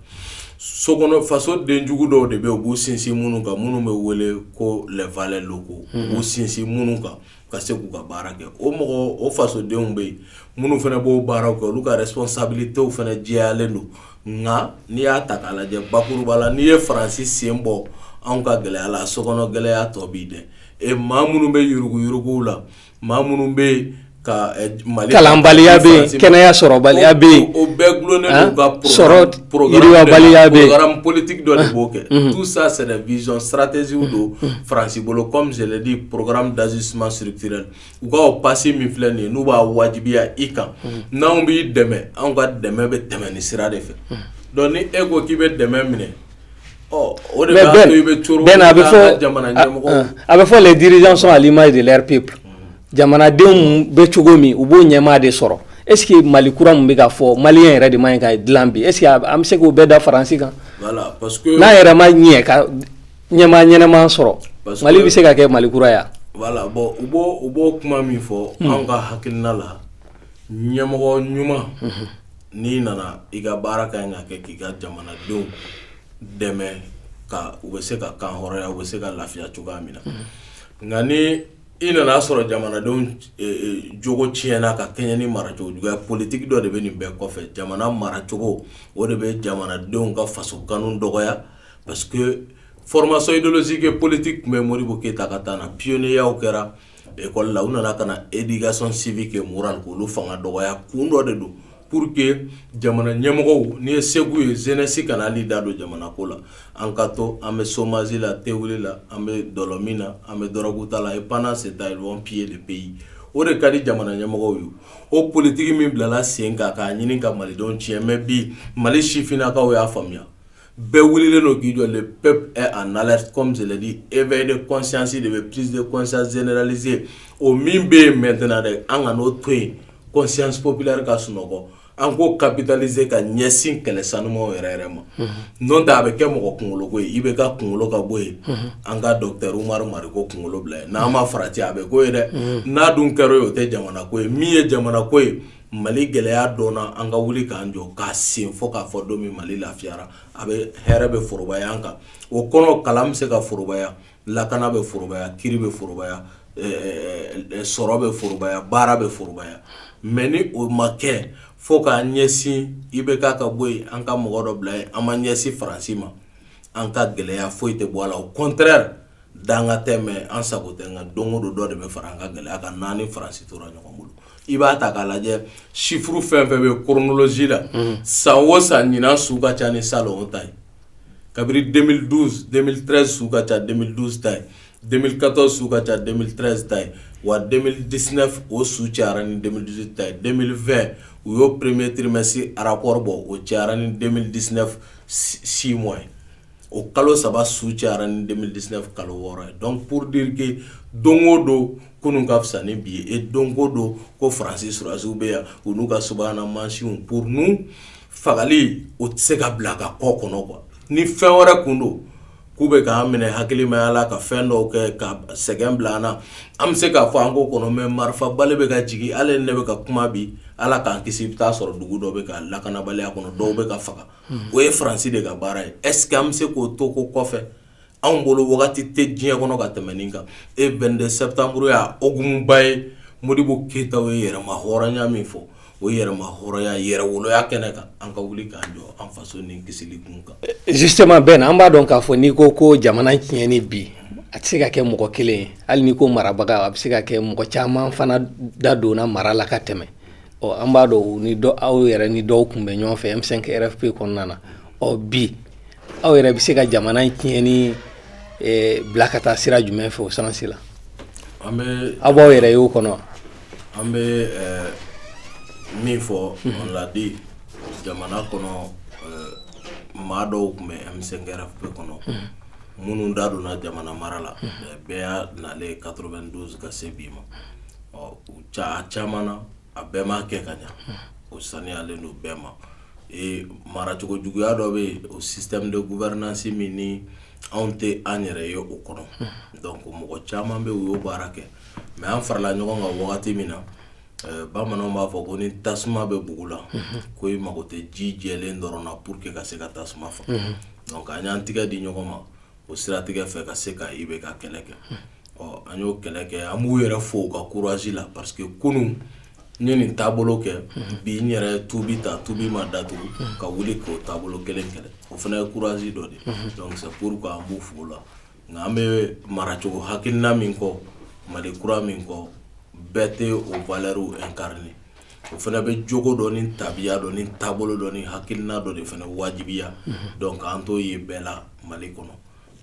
so kɔnɔ faso den jugu dɔw de bɛ yen u b'u sinsin minnu kan minnu bɛ wele ko les valets locaux u b'u sinsin minnu kan ka se k'u ka baara kɛ o mɔgɔ o fasodenw bɛ yen minnu fana b'o baaraw kɛ olu ka responsabilitéw fana jɛyalen don nka n'i y'a ta k'a lajɛ bakuruba la n'i ye faransi sen bɔ anw ka gɛlɛya la so kɔnɔ gɛlɛya tɔ b'i dɛ ɛ maa minnu bɛ yuruguyuruguw la maa minnu bɛ ka mali kalanbaliya bɛ yen kɛnɛya sɔrɔbaliya bɛ yen o bɛɛ dulonnen don ka sɔrɔ Porobaliya politigi dɔ de b'o kɛ tu sa sɛnɛ vz saratɛzsi don faransi bolo kɔmidi poro dasi suma sirifi u kaaw pasi min filɛ nin ye n'u b'a wajibiya i kan n' anw b'i dɛmɛ anw ka dɛmɛ bɛ tɛmɛ ni sira de fɛ dɔn ni e ko k'i bɛ dɛmɛ minɛ o a bɛ fɔ a bɛ fɔ diriz sɔn ali ma de p jamanadenw bɛ cogo min u b'o ɲɛmaa de sɔrɔ est-ce que mali kura min bɛ ka fɔ maliyɛn yɛrɛ de man ɲi ka dilan bi est-ce que an bɛ se k'o bɛɛ da faransi kan n'a yɛrɛ ma ɲɛ ka ɲɛmaa ɲɛnama sɔrɔ mali bɛ se ka kɛ mali kura ye wa u b'o kuma min fɔ an ka hakilina la ɲɛmɔgɔ ɲuman n'i nana i ka baara ka ɲi ka kɛ k'i ka jamanadenw dɛmɛ ka u bɛ se ka kan hɔrɔnya u bɛ se ka lafiya cogoya min na nka i nana a sɔrɔ jamanadenw jogo tiɲɛna ka kɛɲɛ ni maracogo juguya politigi dɔ de bɛ nin bɛɛ kɔfɛ jamana maracogo o de bɛ jamanadenw ka faso kanu dɔgɔya parce que formation idéologique et politique tun bɛ modibo keyita ka temps na pionnierya kɛra école la u nana ka na éducation civique et morale k'olu fanga dɔgɔya kun dɔ de don Pour que jamana ɲɛmɔgɔw ni ye sago ye jeunesse kana hali da don jamana ko la an ka to an bɛ chômage la tewuli la an bɛ dɔlɔmin na an bɛ drogue ta la et pendant ce temps ils vont piller le pays o de ka di jamana ɲɛmɔgɔw ye o politigi min bilala sen kan k'a ɲini ka malidenw tiɲɛ mais bi mali sifinnakaw y'a faamuya Bɛɛ wele don k'i jɔ pep a na kɔmidi e bɛ de kɔsisi de bɛ psite kɔnsanera o min bɛ yen mɛtna dɛ an ka n'o to yen kɔsipbilari ka sunɔgɔ an ko kabitalise ka ɲɛsin kɛlɛ sanu yɛrɛ yɛrɛ ma n' ta a bɛ kɛ mɔgɔ kunkoloko i bɛ ka kunkolo ka bɔ yen an ka dɔnkilikɛru mari ko kunkolo bila n'a ma fara cɛ a bɛ ko yen dɛ n'a dun kɛra ye o tɛ jamana ko ye min ye jamana ko ye Mali gɛlɛya dɔnna an ka wuli k'an jɔ k'a sen fɔ k'a fɔ don min mali lafiyara a bɛ hɛrɛ bɛ forobaya an kan o kɔnɔ kalan bɛ se ka forobaya lakana bɛ forobaya kiri bɛ forobaya sɔrɔ bɛ forobaya baara bɛ forobaya mais ni o ma kɛ fo k'an ɲɛsin IBK ka bɔ yen an ka mɔgɔ dɔ bila yen an ma ɲɛsin faransi ma an ka gɛlɛya foyi tɛ bɔ a la au contraire danga tɛ an sago tɛ nka don o don dɔ de bɛ fara an ka gɛlɛya kan n'an ni faransi tora ɲɔgɔn bolo i b'a ta k'a lajɛ sifuru fɛn fɛn bɛ kolonsi la san o san ɲin su ka ca ni sa o ta ye kabini denmisɛnnin su ka ca denmisɛnnin ta ye denmisɛnninkatɔ su ka ca denmisɛnnin ta ye wa diinɛ o su ca ni denmisɛn ta ye denmisɛnninfɛn u y'o pereplemesi arakɔrɔ bɔ o ca ni denmisɛnnin diinɛ si mɔn ye o kalo saba su cayara ni 2019 kalo wɔɔrɔ ye donc pour dire que don o don kunun ka fisa ni bi ye et don o don ko faransi sɔrɔdasiw bɛ yan u n'u ka subahana mansinw pourtant fagali o tɛ se ka bila a ka kɔ kɔnɔ quoi ni fɛn wɛrɛ tun don k'u bɛ k'an minɛ hakilimaya la ka fɛn dɔw kɛ ka sɛgɛn bila an na an bɛ se k'a fɔ an ko kɔnɔ mais marifa bali bɛ ka jigin hali ne bɛ ka kuma bi ala k'an kisi i bɛ taa sɔrɔ dugu dɔ bɛ ka lakanabaliya kɔnɔ dɔw bɛ ka faga o ye faransi de ka baara ye est-ce que an bɛ se k'o to ko kɔfɛ anw bolo wagati tɛ diɲɛ kɔnɔ ka tɛmɛ nin kan e 22 septembre y'a hukumuba ye modibo keyita ye yɛrɛma hɔrɔnya min fɔ o yɛrɛma hɔrɔnya yɛrɛ woloya kɛnɛ kan an ka wuli k'an jɔ an faso ni kisili kun kan justement Ben an b'a dɔn k'a fɔ n'i ko ko jamana tiɲɛni bi a tɛ se ka kɛ mɔgɔ kelen ye hali n'i ko marabaga a bɛ se ka kɛ mɔgɔ caman fana da donna mara la ka tɛmɛ ɔ an b'a dɔn ni dɔ aw yɛrɛ ni dɔw tun bɛ ɲɔgɔn fɛ M5 RFP kɔnɔna na ɔ bi aw yɛrɛ bɛ se ka jamana in tiɲɛni eh, bila ka taa sira jumɛn fɛ o sansi la an bɛ aw b'aw yɛrɛ y'o kɔnɔ an bɛ eh, min fɔ on l'a dit jamana kɔnɔ eh, maa dɔw tun bɛ M5 RFP kɔnɔ minnu da donna jamana mara la eh, bɛɛ y'a nalen 92 ka se bi ma ɔ u ca caman na a bɛɛ ma kɛ ka ɲɛ o saniyalen don bɛɛ ma maracogo juguya dɔ bɛ yen o système de gouvernance min ni anw tɛ an yɛrɛ ye o kɔnɔ donc mɔgɔ caman bɛ u y'o baara kɛ mais an farala ɲɔgɔn kan wagati min na bamananw b'a fɔ ko ni tasuma bɛ bugu la ko i mago tɛ ji jɛlen dɔrɔn na pour que ka se ka tasuma faga donc an y'an tɛgɛ di ɲɔgɔn ma o siratigɛ fɛ ka se ka IBK kɛlɛ kɛ ɔ an y'o kɛlɛ kɛ an b'u yɛrɛ fo u ka courage la parce que kunun n ye nin taabolo kɛ bi n yɛrɛ tubi ta tubi ma datugu ka wuli k'o taabolo kelen kɛlɛ o fana ye courage dɔ de ye donc c'est pourquoi an b'u fo la nka an bɛ maracogo hakilina min kɔ mali kura min kɔ bɛɛ tɛ o valeurw incarner o fana bɛ jogo dɔ ni tabiya dɔ ni taabolo dɔ ni hakilina dɔ de fana wajibiya donc an t'o ye bɛɛ la mali kɔnɔ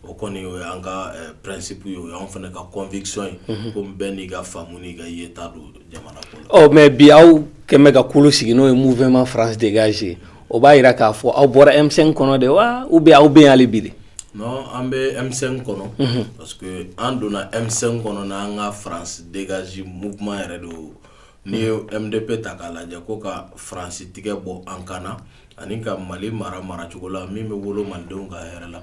o kɔni o y'an ka principe ye o y'an fana ka conviction ye ko bɛɛ n'i ka faamu n'i ka yeta don jamana kɔnɔ mais bi aw kɛmɛ ka kulu sigi n'o ye mouvement France dégage o b'a yira k'a fɔ aw bɔra M5 kɔnɔ de wa ou bien aw bɛ yen hali bi de non an bɛ M5 kɔnɔ parce que an donna M5 kɔnɔ n' an ka France dégage mouvement yɛrɛ don n'i ye mdp ta k'a lajɛ ko ka faransi tigɛ bɔ an kan na ani ka mali mara maracogo la min bɛ wolo malidenw ka hɛrɛ la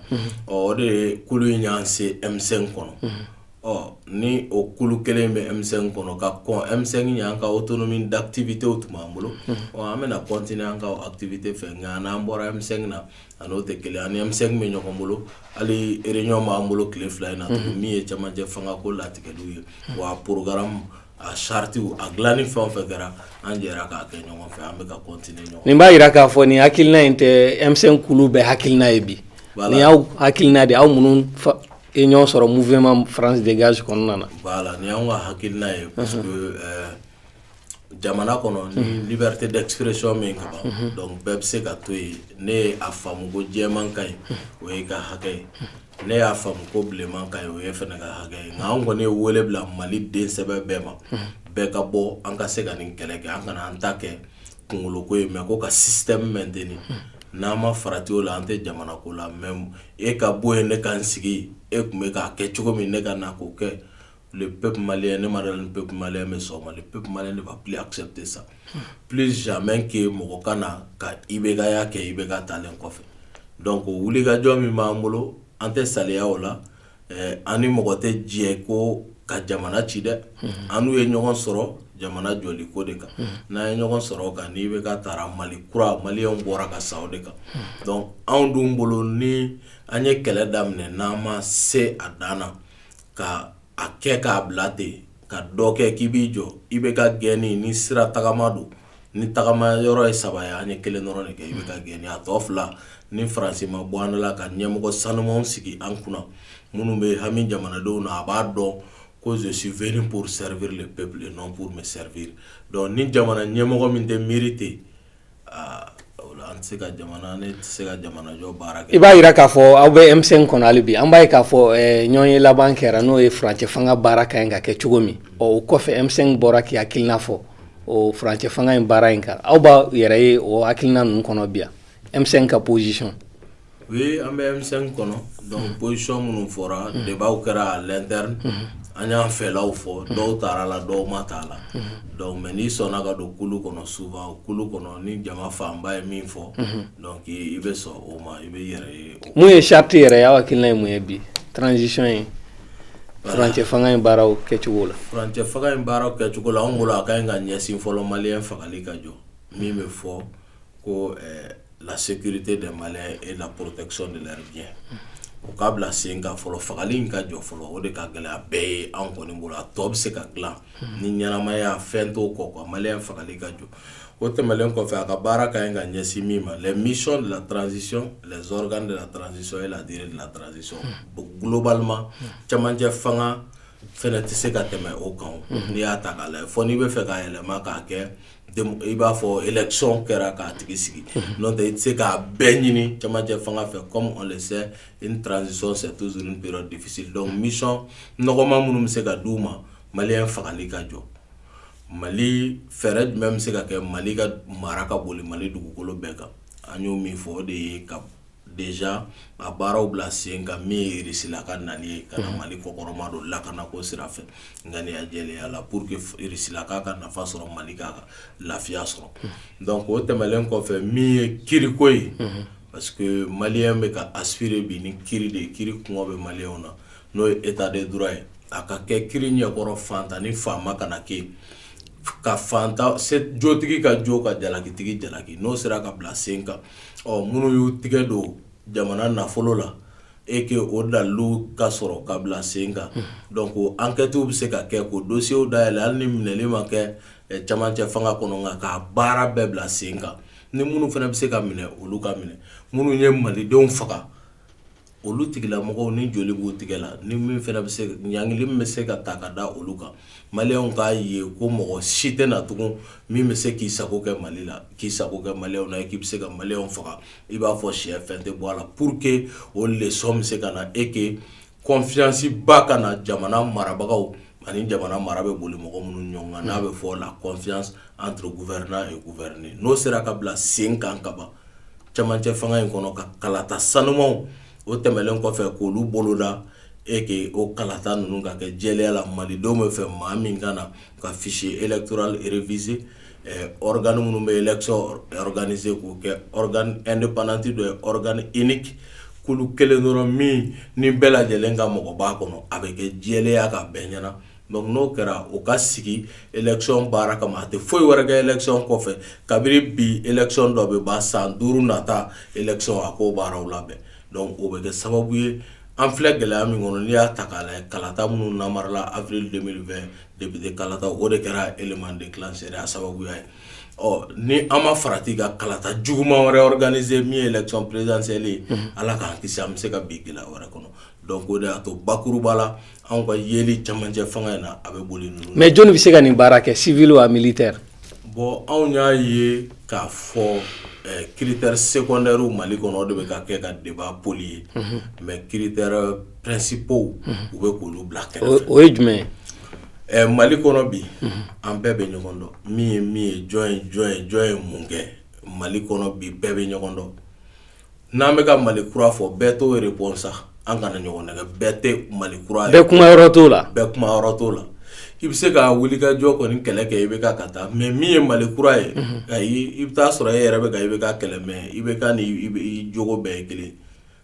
ɔ o de ye kulu in y'an se M5 kɔnɔ ɔ ni o kulu kelen bɛ M5 kɔnɔ ka kɔn M5 ɲɛ an ka autonomie d'activité o tun b'an bolo ɔ an bɛna continuer an ka activité fɛ nka an n'an bɔra M5 na a n'o tɛ kelen an ni M5 bɛ ɲɔgɔn bolo hali réunion b'an bolo tile fila in na min ye cɛmancɛ fangako latigɛliw ye wa porogaramu a charte a dilanni fɛn o fɛn kɛra an jɛra k'a kɛ ɲɔgɔn fɛ an bɛ ka continuer ɲɔgɔn nin b'a jira k'a fɔ nin hakilina in tɛ M5 kulu bɛɛ hakilina ye bi nin y'aw hakilina de aw minnu ye ɲɔgɔn sɔrɔ mouvement France dégage kɔnɔna na voilà nin y'an ka hakilina ye parce que jamana kɔnɔ ni liberté d'expression min ka ban donc bɛɛ bɛ se ka to yen ne y'a faamu ko jɛman ka ɲi o y'i ka hakɛ ye ne y'a faamu ko bilenman ka ɲi o y'e fana ka hakɛ ye nka an kɔni ye wele bila maliden sɛbɛ bɛɛ ma bɛɛ ka bɔ an ka se ka nin kɛlɛ kɛ an kana an ta kɛ kunkoloko ye mais ko ka système maintenir n'an ma farati o la an tɛ jamana ko la mais e ka bɔ yen ne ka n sigi e tun bɛ k'a kɛ cogo min ne ka na k'o kɛ le peuple malien ne m'a dɔn ni peuple malien bɛ sɔn o ma le peuple malien ne va plus accepter ça plus jamais que mɔgɔ ka na ka IBK ya kɛ IBK taalen kɔfɛ donc wulikajɔ min b'an bolo an tɛ saliya o la ɛɛ an ni mɔgɔ tɛ jɛ ko ka jamana ci dɛ an n'u ye ɲɔgɔn sɔrɔ jamana jɔli ko de kan n'an ye ɲɔgɔn sɔrɔ o kan ni IBK taara Mali kura maliyɛnw bɔra ka sa o de kan donc anw dun bolo ni an ye kɛlɛ daminɛ n'an ma se a dan na ka a kɛ k'a bila ten ka dɔ kɛ k'i b'i jɔ IBK gɛnni ni sira tagama don ni tagama yɔrɔ ye saba ye an ye kelen dɔrɔn de kɛ IBK gɛnni a tɔ fila ni faransi ma bɔ an la ka ɲɛmɔgɔ sanumanw sigi an kunna minnu bɛ hami jamanadenw na a b'a dɔn ko je suis venu pour servir le peuple et non pour me servir donc ni jamana ɲɛmɔgɔ min tɛ miiri ten I b'a jira k'a fɔ aw bɛ M5 kɔnɔ hali bi an b'a ye k'a fɔ ɲɔgɔnye laban kɛra n'o ye furancɛ fanga baara ka ɲi ka kɛ cogo min o kɔfɛ M5 bɔra k'i hakilina fɔ o furancɛ fanga in baara in kan aw b'a yɛrɛ ye o hakilina ninnu kɔnɔ bi yan M5 ka position oui an bɛ M5 kɔnɔ donc position minnu fɔra débatw kɛra à l'interne an y'an fɛlaw fɔ dɔw taara la dɔw ma taa la donc mais n'i sɔnna ka don kulu kɔnɔ souvent kulu kɔnɔ ni jama fanba ye min fɔ donc i bɛ sɔn o ma i b'i yɛrɛ ye mun ye charte yɛrɛ ye aw hakilina ye mun ye bi transition ye furancɛ fanga in baaraw kɛcogo la furancɛ fanga in baaraw kɛcogo la an bolo a ka ɲi ka ɲɛsin fɔlɔ maliyɛn fagali ka jɔ min bɛ fɔ ko la sécurité des Maliens et la protection de leurs biens o ka bila sen kan fɔlɔ fagali in ka jɔ fɔlɔ o de ka gɛlɛya bɛɛ ye anw kɔni bolo a tɔ bɛ se ka dilan ni ɲɛnamaya fɛn t'o kɔ quoi maliyɛn fagali ka jɔ o tɛmɛlen kɔfɛ a ka baara ka ɲi ka ɲɛsin min ma les missions de la transition les organes de la transition et la durée de la transition globalement cɛmancɛ fanga fɛnɛ tɛ se ka tɛmɛ o kan n'i y'a ta k'a lajɛ fɔ n'i b'a fɛ k'a yɛlɛma k'a kɛ i b'a fɔ election kɛra k'a tigi sigi n'o tɛ i tɛ se k'a bɛɛ ɲini camancɛ fanga fɛ comme on le sait une transition c'est toujours une période difficile donc mission nɔgɔma minnu bɛ se ka d'u ma maliyɛn fagali ka jɔ mali fɛɛrɛ jumɛn bɛ se ka kɛ mali ka mara ka boli mali dugukolo bɛɛ kan an y'o min fɔ o de ye ka déjà a baaraw bila sen kan min ye Irisila ka nali ye ka na mali kɔkɔrɔmadon lakana ko sira fɛ ŋaniya jɛlenya la pour que Irisila k'a ka nafa sɔrɔ mali k'a ka lafiya sɔrɔ donc o tɛmɛlen kɔfɛ min ye kiriko ye parce que maliyɛn bɛ ka aspirer bi ni kiri de ye kiri kɔngɔ bɛ maliyɛnw na n'o ye état de droit ye a ka kɛ kiri ɲɛkɔrɔ faantan ni faama kana kɛ ka faantan jotigi ka jo ka jalakitigi jalaki n'o sera ka bila sen kan ɔ minnu y'u tigɛ don jamana nafolo la et que o dalilu ka sɔrɔ ka bila sen kan donc enquêtew bɛ se ka kɛ k'o dossierw dayɛlɛ hali ni minɛli ma kɛ camancɛ fanga kɔnɔ nka k'a baara bɛɛ bila sen kan ni minnu fana bɛ se ka minɛ olu ka minɛ minnu ye malidenw faga olu tigilamɔgɔw ni joli b'u tigɛ la ni min fana bɛ se ɲangili min bɛ se ka ta ka da olu kan maliyɛnw k'a ye ko mɔgɔ si tɛ na tugun min bɛ se k'i sago kɛ mali la k'i sago kɛ maliyɛnw na k'i bɛ se ka maliyɛnw faga i b'a fɔ syɛ fɛn tɛ bɔ a la pour que o leçon bɛ se ka na et que confianceba ka na jamana marabagaw ani jamana mara bɛ boli mɔgɔ minnu ɲɔgɔn kan n'a bɛ fɔ la confiance entre gouvernant et gouverné n'o sera ka bila sen kan ka ban camancɛ fanga in kɔnɔ ka kalata sanumanw o tɛmɛlen kɔfɛ k'olu boloda et que o kalata ninnu ka kɛ jɛlenya la malidenw bɛ fɛ maa min ka na ka fichier électoral réviser organe minnu bɛ election organiser k'o kɛ organe indépendant dɔ ye organe unique kulu kelen dɔrɔn min ni bɛɛ lajɛlen ka mɔgɔ b'a kɔnɔ a bɛ kɛ jɛlenya kan bɛɛ ɲɛna Donc n'o kɛra o ka sigi election baara kama a tɛ foyi wɛrɛ kɛ election kɔfɛ kabini bi election dɔ bɛ ban san duuru nata election a k'o baaraw labɛn donc o bɛ kɛ sababu ye an filɛ gɛlɛya min kɔnɔ n'i y'a ta k'a lajɛ kalata minnu namarala avril 2020 député kalata o de kɛra élément déclencheur ye a sababuya ye ɔ ni an ma farati ka kalata juguman wɛrɛ organiser min ye election présidentielle ye Ala k'an kisi an bɛ se ka bin gɛlɛya wɛrɛ kɔnɔ donc o de y'a to bakuruba la anw ka yeli camancɛ fanga in na a bɛ boli ninnu mais jɔnni bɛ se ka nin baara kɛ civil wa militaire bon anw y'a ye k'a fɔ eh, critère secondaire mali kɔnɔ o de bɛ ka kɛ ka débat polluer mhm. mais critères principaux mhm. u bɛ k'olu bila kɛrɛfɛ o ye jumɛn ye eh, mali kɔnɔ bi mhm. an bɛɛ bɛ ɲɔgɔn dɔn min ye min ye jɔn ye jɔn ye jɔn ye mun kɛ mali kɔnɔ bi bɛɛ bɛ ɲɔgɔn dɔn N'an bɛ ka mali kura fɔ bɛɛ t'o réponse sa an kana ɲɔgɔn nɛgɛn bɛɛ tɛ mali kura ye bɛɛ kuma yɔrɔ t'o la bɛɛ kuma yɔrɔ t'o la i bɛ se ka wuli ka jɔ kɔni kɛlɛ kɛ i bɛ ka taa mais min ye mali kura ye i b'a sɔrɔ e yɛrɛ bɛ i bɛ ka kɛlɛ mais i bɛ ka jogo bɛɛ ye kelen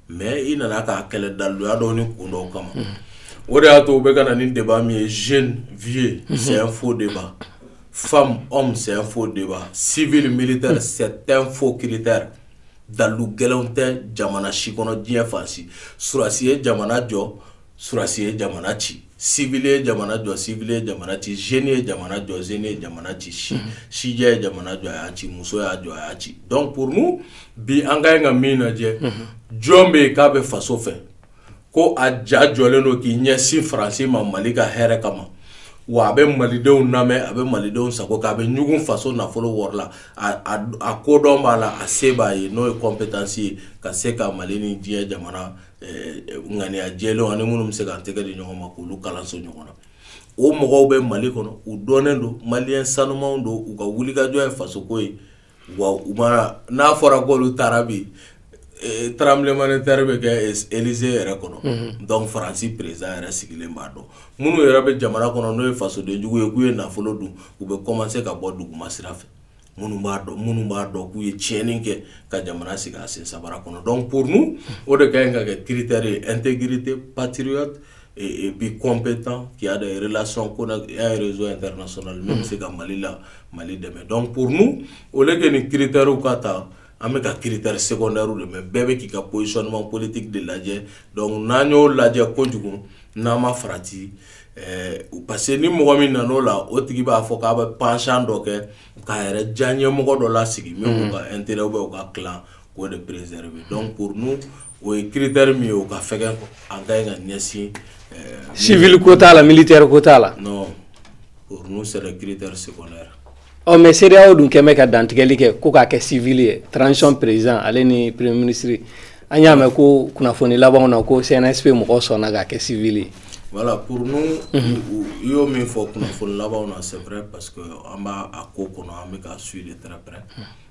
mais i nana k'a kɛlɛ daluya dɔw ni kun dɔw kama o de y'a to u bɛ ka na ni débat min ye jeune vieux ye c'est un faux débat femme homme c'est un faux débat civil militaire c'est un faux critère dalu gɛlɛn tɛ jamana si kɔnɔ diɲɛ fan si surasi ye jamana jɔ surasi ye jamana ci civil ye jamana jɔ civil ye jamana ci jeune ye jamana jɔ jeune ye jamana ci sijɛ ye jamana jɔ a y'a ci muso y'a jɔ a y'a ci donc pour nous bi an ka ɲi ka min lajɛ jɔn bɛ yen k'a bɛ faso fɛ ko a ja jɔlen don k'i ɲɛsin faransi ma mali ka hɛrɛ kama wa a bɛ malidenw lamɛn a bɛ malidenw sago kɛ a bɛ ɲugun faso nafolo wari la a kodɔn b'a la a se b'a ye n'o ye compétence ye ka se ka mali ni diɲɛ jamana ŋaniya jɛlenw ani minnu bɛ se ka tɛgɛ di ɲɔgɔn ma k'olu kalanso ɲɔgɔn na o mɔgɔw bɛ mali kɔnɔ u dɔnnen don maliyɛn sanumanw don u ka wulikajɔ ye fasoko ye wa u n'a fɔra ko olu taara bi tremblement de terre bɛ kɛ Élysée yɛrɛ kɔnɔ donc faransi président yɛrɛ sigilen b'a dɔn minnu yɛrɛ bɛ jamana kɔnɔ n'o ye fasodenjugu ye k'u ye nafolo dun u bɛ kɔmanse ka bɔ duguma sira fɛ minnu b'a dɔn k'u ye tiɲɛni kɛ ka jamana sigi a sen sabara kɔnɔ donc pour nous o de ka ɲi ka kɛ critère ye intégrité patriote bi kɔnp tan y'a lac ko y'arezson in taara so n bɛ se ka mali la mali dɛmɛ dɔn purun o de kɛ nin kiiriter ka ta an bɛ ka kiiriter sɛ la mɛ bɛɛ bɛ k'i ka psɔnɔnma politigi de lajɛ dɔnku n'an y'o lajɛ kojugu n'an ma farati u parce que ni mɔgɔ min nana o la o tigi b'a fɔ k'a bɛ pansan dɔ kɛ k'a yɛrɛ jan ɲɛmɔgɔ dɔ la sigi min ka n teri bɛ ka k'o de perezre dɔn purun o ye kiriteri min ye o ka fɛ ka ɲɛsin sivri ko t'a la mili tɛ ko t'a la sera ki se ɔ mɛ seerew dun kɛmɛ ka dantigɛli kɛ ko k'a kɛ siv ye trancɔn perez ale ni pere minisiriri an y'a mɛn ko kunnafoni laban na ko sɛnɛsinbɛ mɔgɔ sɔnna ka kɛ siv ye wala pur i y'o min fɔ kunnafoni laban na sɛɛrɛ pa que an b'a ko kɔnɔ an bɛ ka su de tarawele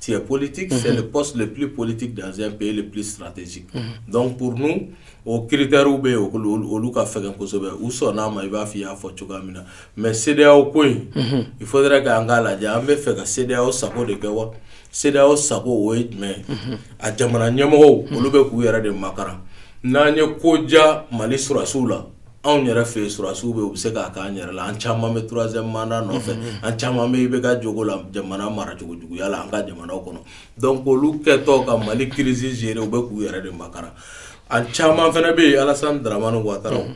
Tu es politique, c'est le poste le plus politique dans un pays le plus stratégique. Donc pour nous o critère bɛ yen olu ka fɛgɛn kosɛbɛ u sɔnn'a ma i b'a fɔ i y'a fɔ cogoya min na mais CEDEAO ko in il faudrait que an k'a lajɛ an bɛ fɛ ka CEDEAO sago de kɛ wa CEDEAO sago o ye jumɛn ye a jamana ɲɛmɔgɔw olu bɛ k'u yɛrɛ de makaran n'an ye ko ja Mali sɔrɔdasiw la anw yɛrɛ fɛ sɔrɔsiw bɛ u bɛ se k'a k'an yɛrɛ la an caman bɛ troisième mandat nɔfɛ an caman bɛ IBK jogo la jamana mara cogo juguya la an ka jamana kɔnɔ donc olu kɛtɔ ka mali crise gérer u bɛ k'u yɛrɛ de makaran a caman fana bɛ yen Alassane Dramane Ouattara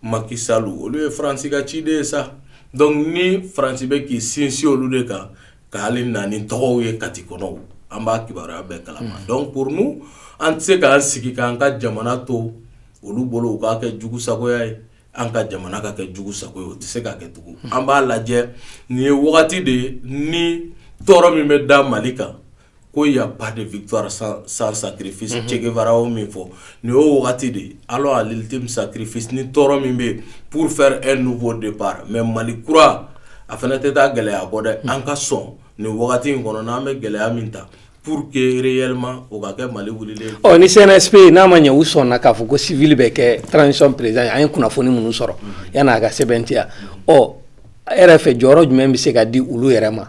Macky Sall olu ye faransi ka ciden ye sa donc ni faransi bɛ k'i sinsin olu de kan ka na ni tɔgɔw ye kati kɔnɔ an b'a kibaruya bɛɛ kalama donc pour nous an tɛ se k'an sigi k'an ka jamana to olu bolo u k'a kɛ jugu sagoya ye an ka jamana ka kɛ jugu sago ye o tɛ se ka kɛ tugun an b'a lajɛ nin ye wagati de ye ni tɔɔrɔ min bɛ da mali kan ko y a pas de victoire sans sacrifice Che Guevara o min fɔ nin y'o wagati de ye alors à l'ultime sacrifice ni tɔɔrɔ min bɛ yen pour faire un nouveau départ mais mali kura a fana tɛ taa gɛlɛya kɔ dɛ an ka sɔn nin wagati in kɔnɔ n' an bɛ gɛlɛya min ta Pour que réellement o ka kɛ mali wuli ɔ ni CNSP n'a ma ɲɛ u sɔnna k'a fɔ ko civil bɛ kɛ transition président an ye kunnafoni minnu sɔrɔ yan'a ka sɛbɛntiya ɔ e yɛrɛ fɛ jɔyɔrɔ jumɛn bɛ se ka di olu yɛrɛ ma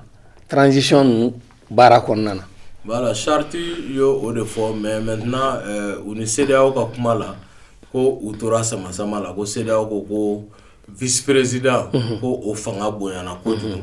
transition ninnu baara kɔnɔna na voilà charte y' o de fɔ mais maintenant u ni CEDEAO ka kuma la ko u tora sama sama la ko CEDEAO ko vice président ko o fanga bonyana kojugu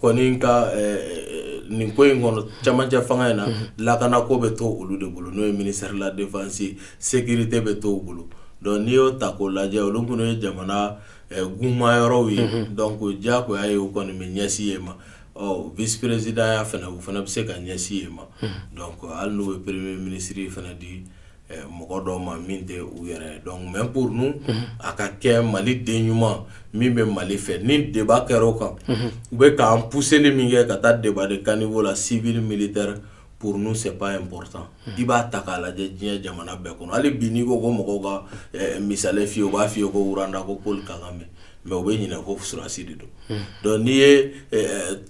kɔni ka nin ko in kɔnɔ cɛmancɛ fanga in na lakana ko bɛ to olu de bolo n'o ye ministère de la défense sécurité bɛ to u bolo donc n'i y'o ta k'o lajɛ olu minnu ye jamana guman yɔrɔw ye donc diyagoya ye u kɔni bɛ ɲɛsin yen ma ɔ vice présidentya fana u fana bɛ se ka ɲɛsin yen ma donc hali n'u bɛ premier ministre fana di mɔgɔ dɔw ma min tɛ u yɛrɛ donc mais pour nous a ka kɛ mali den ɲuman min bɛ mali fɛ ni débat kɛra o kan u bɛ k'an pousserli min kɛ ka taa débat de caniveau la civil militaire pour nous c'est pas important i b'a ta k'a lajɛ diɲɛ jamana bɛɛ kɔnɔ hali bi n'i ko ko mɔgɔw ka misali f'i ye u b'a f'i ye ko Rwanda ko Paul Kagame mais u bɛ ɲinɛ ko sɔrɔsi de don donc n'i ye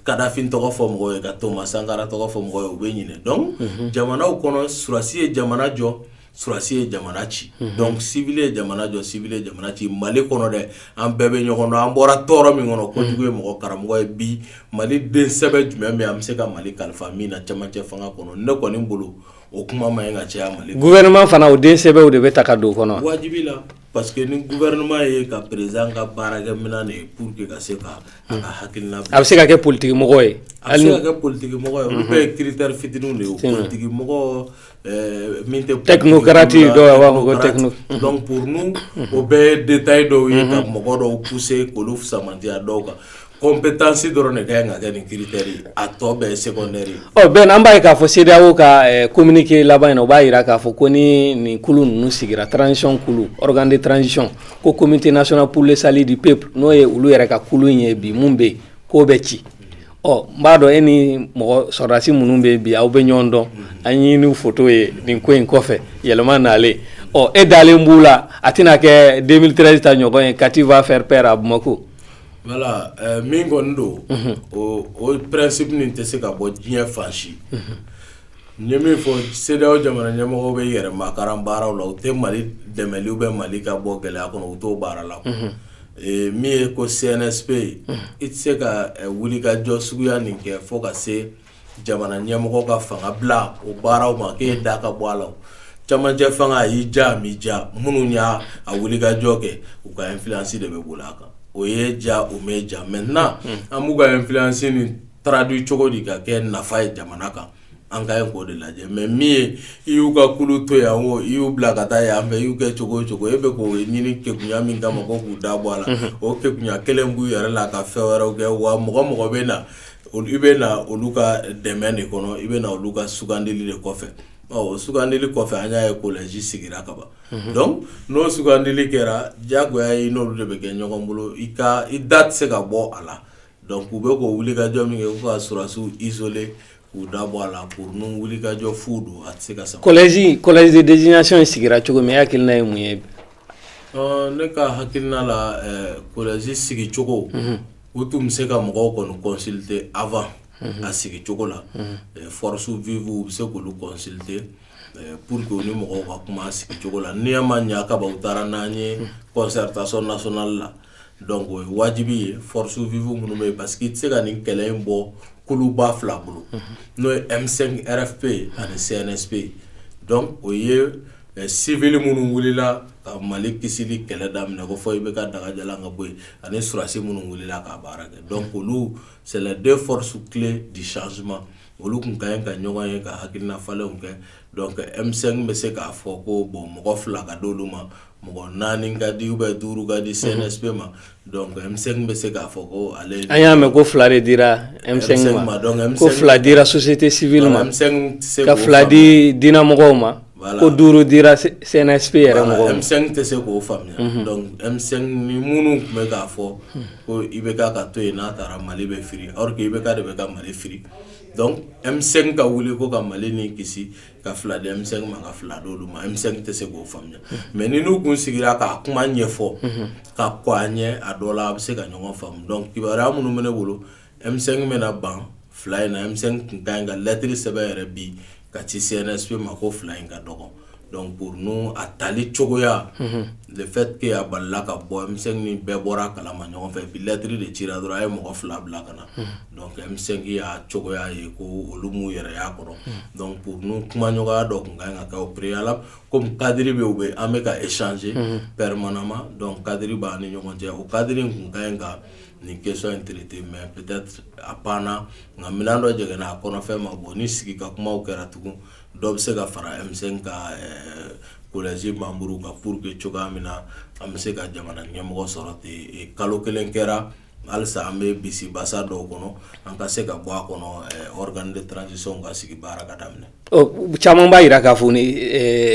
Kadafi tɔgɔ fɔ mɔgɔ ye ka Thomas Sankara tɔgɔ fɔ mɔgɔ ye u bɛ ɲinɛ donc jamanaw kɔnɔ sɔrɔsi ye jamana jɔ sɔrɔsi ye jamana ci donc civil ye jamana jɔ civil ye jamana ci mali kɔnɔ dɛ an bɛɛ bɛ ɲɔgɔn dɔn an bɔra tɔɔrɔ min kɔnɔ kojugu ye mɔgɔ karamɔgɔ ye bi mali den sɛbɛ jumɛn min an bɛ se ka mali kalifa min na cɛmancɛ fanga kɔnɔ ne kɔni bolo o kuma man kan ka caya mali gouvernement fana o den sɛbɛw de bɛ ta ka don kɔnɔ wajibi la Parce que ni gouvernement ye ka président ka baarakɛ minɛn de ye pour que ka se ka a ka hakilina bila, a bɛ se ka kɛ politique mɔgɔ ye, a bɛ se ka kɛ politique mɔgɔ ye, olu bɛɛ ye critère fitininw de ye, politique mɔgɔ ɛɛ min tɛ technocrate ye dɔw b'a fɔ ko techno donc pour nous o bɛɛ ye détail dɔw ye ka mɔgɔ dɔw pousser k'olu fusama dɔw kan Ko bɛ taa se dɔrɔn ne ka ka nin kiiri a tɔ bɛɛ se bɛn an b'a k'a fɔ se o ka ko mini k'i laban in o b'a jira k'a fɔ ko ni nin kulu ninnu sigira trancɔn kulu de trancɔn ko ko mini'se sali de pe n'o ye olu yɛrɛ ka kulu in ye bi minnu bɛ yen k'o bɛ ci ɔ n b'a dɔn e ni mɔgɔ sɔdasi minnu bɛ bi aw bɛ ɲɔgɔn dɔn an ɲini ni fɔto ye nin ko in kɔfɛ yɛlɛma nalen ɔ e dalen b'u la a tɛna n'a kɛ den ta ɲɔgɔn ye kati b'a fɛ pɛ a bamakɔ Voilà min kɔni don o principe nin tɛ se ka bɔ diɲɛ fan si n ye min fɔ CEDEAO jamana ɲɛmɔgɔw bɛ yɛrɛmakaran baaraw la u tɛ Mali dɛmɛli ou bien Mali ka bɔ gɛlɛya kɔnɔ u t'o baara la min ye ko CNSP i tɛ se ka wulikajɔ suguya nin kɛ fo ka se jamana ɲɛmɔgɔ ka fanga bila o baaraw ma k'e da ka bɔ a la camancɛ fanga a y'i ja a m'i ja minnu y'a a wulikajɔ kɛ u ka influence de bɛ boli a kan o y'i ja o m'i ja maintenant an b'u ka influence nin traduire cogo di ka kɛ nafa ye jamana kan an ka ɲi k'o de lajɛ mais min ye i y'u ka kulu to yan o i y'u bila ka taa yan fɛ i y'u kɛ cogo o cogo e bɛ k'o ɲini kekunya min kama ko k'u da bɔ a la o kekunya kelen b'u yɛrɛ la ka fɛn wɛrɛw kɛ wa mɔgɔ o mɔgɔ bɛ na Olu i bɛ na olu ka dɛmɛ de kɔnɔ i bɛ na olu ka sugandili de kɔfɛ ɔ sugandili kɔfɛ an y'a ye collège sigira kaban donc n'o sugandili kɛra jagoya ye n'olu de bɛ kɛ ɲɔgɔn bolo i ka i da tɛ se ka bɔ a la donc u bɛ k'o wulikajɔ min kɛ k'u ka sɔrɔdasiw isoler k'u da bɔ a la pour nous wulikajɔ fu don a tɛ se ka collège collège de désignation sigira cogo min e hakilina ye mun ye ne ka hakilina la collège sigicogo U tun bɛ se ka mɔgɔw kɔni consulter avant a sigi cogo la forces vives u bɛ se k'olu consulter pour que u ni mɔgɔw ka kuma a sigi cogo la n'i ma ɲɛ ka ban u taara n'an ye concertation nationale la o ye wajibi ye forces vives minnu bɛ yen parce que i tɛ se ka nin kɛlɛ in bɔ kuluba fila bolo n'o ye M5 RFP ye ani CNSP ye donc o ye civil minnu wulila ka Mali kisili kɛlɛ daminɛ ko fo IBK dégager ka bɔ yen ani surasi minnu wulila ka baara kɛ donc olu c'est les deux forces clés du changement olu kun ka ɲi ka ɲɔgɔn ye ka hakilinafalenw kɛ donc M5 bɛ se k'a fɔ ko bon mɔgɔ fila ka d'olu ma mɔgɔ naani ka di ou bien duuru ka di CNSP ma M5 bɛ se k'a fɔ ko ale an y'a mɛn ko fila de dira M5 ma donc fila dira société civile ma ka fila di diinɛ mɔgɔw ma ko duuru dira CNSP yɛrɛ mɔgɔw ma M5 tɛ se k'o faamuya donc M5 ni minnu tun bɛ k'a fɔ ko IBK ka to yen n'a taara mali bɛ firi or que IBK de bɛ ka mali firi donc M5 ka wuli ko ka mali ni kisi ka fila di M5 ma ka fila d'olu ma M5 tɛ se k'o faamuya mais ni n'u tun sigira k'a kuma ɲɛfɔ ka kɔn a ɲɛ a dɔ la a bɛ se ka ɲɔgɔn faamu donc kibaruya minnu bɛ ne bolo M5 bɛ na ban fila in na M5 tun ka ɲi ka lɛtri sɛbɛn yɛrɛ bi ka ci CNSP ma ko fila in ka dɔgɔ donc pour nous a tali cogoya le fait que a balala ka bɔ M5 ni bɛɛ bɔra a kala ma ɲɔgɔn fɛ bi lɛtri de cira dɔrɔn a ye mɔgɔ fila bila ka na donc M5 y'a cogoya ye ko olu m'u yɛrɛ y'a kɔrɔ donc pour nous kuma ɲɔgɔnya dɔ tun ka kan ka kɛ au préalable kɔmi kadiri bɛ bɛ an bɛ ka échanger permanemment donc kadiri b'an ni ɲɔgɔn cɛ o kadiri in tun ka kan ka nin question in traiter mais peut-être a panna nka minɛn dɔ jɛgɛnna a kɔnɔfɛn ma bɔn ni sigi ka kuma kɛra tugun dɔ bɛ se ka fara M5 ka collège membres kan pour que cogoya min na an bɛ se ka jamana ɲɛmɔgɔ sɔrɔ ten kalo kelen kɛra halisa an bɛ bisi basa dɔw kɔnɔ an ka se ka bɔ a kɔnɔ organe de transition ka sigi baara ka daminɛ caman b'a jira k'a fɔ ni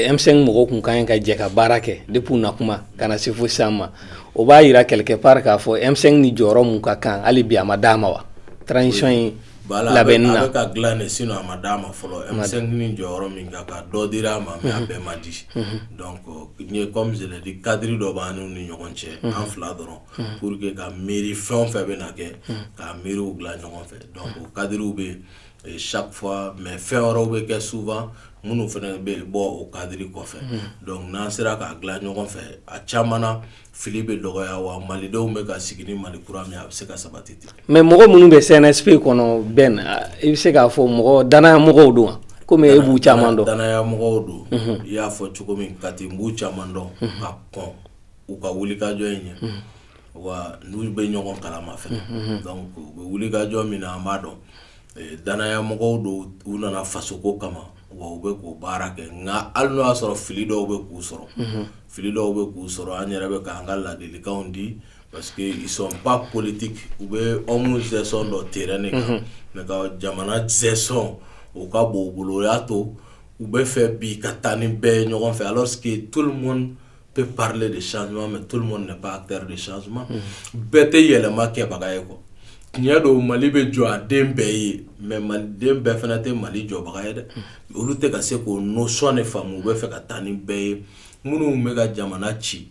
M5 mɔgɔw kun ka ɲi ka jɛ ka baara kɛ depuis na kuma ka na se fo sisan ma o b'a jira quelque part k'a fɔ M5 ni jɔyɔrɔ min ka kan hali bi a ma d'a ma wa transition in labɛnni a bɛ ka dilan de sinon a ma d'a ma fɔlɔ M5 ni jɔyɔrɔ min ka kan dɔ dira a ma mais a bɛɛ ma di kɔmi je l'ai dit kadiri dɔ b'an n'u ni ɲɔgɔn cɛ an fila dɔrɔn pour que ka miiri fɛn o fɛn bɛ na kɛ ka miiriw dila ɲɔgɔn fɛ kadiri bɛ yen mais fɛn wɛrɛw bɛ kɛ souvent minnu fana bɛ bɔ o kadiri kɔfɛ donc n'an sera k'a dila ɲɔgɔn fɛ a caman na fili bɛ dɔgɔya wa malidenw bɛ ka sigi ni mali kura min a bɛ se ka sabati ten mais mɔgɔ minnu bɛ CNSP kɔnɔ Ben i bɛ se k'a fɔ mɔgɔ dannaya mɔgɔw don wa kɔmi e b'u caman dɔn dannaya mɔgɔw don i y'a fɔ cogo min Kati n b'u caman dɔn ka kɔn u ka wulikajɔ in ɲɛ wa n'u bɛ ɲɔgɔn kalama fɛnɛ u bɛ wulikajɔ min na an b'a dɔn dannaya mɔgɔw don u nana fasoko kama wa u bɛ k'o baara kɛ nka hali n'o y'a sɔrɔ fili dɔw bɛ k'u sɔrɔ fili dɔw bɛ k'u sɔrɔ an yɛrɛ bɛ k'an ka ladilikanw di parce que ils sont pas politiques u bɛ homme gestion dɔn terrain de kan nka jamana gestion o ka bon u bolo o y'a to u b'a fɛ bi ka taa ni bɛɛ ye ɲɔgɔn fɛ alors que peut parler de changement mais tout le monde n'est pas acteur de changement bɛɛ tɛ yɛlɛma kɛbaga ye quoi tiɲɛ don Mali bɛ jɔ a den bɛɛ ye mais maliden bɛɛ fana tɛ Mali jɔbaga ye dɛ olu tɛ ka se k'o notion de faamu u bɛ fɛ ka taa ni bɛɛ ye minnu bɛ ka jamana ci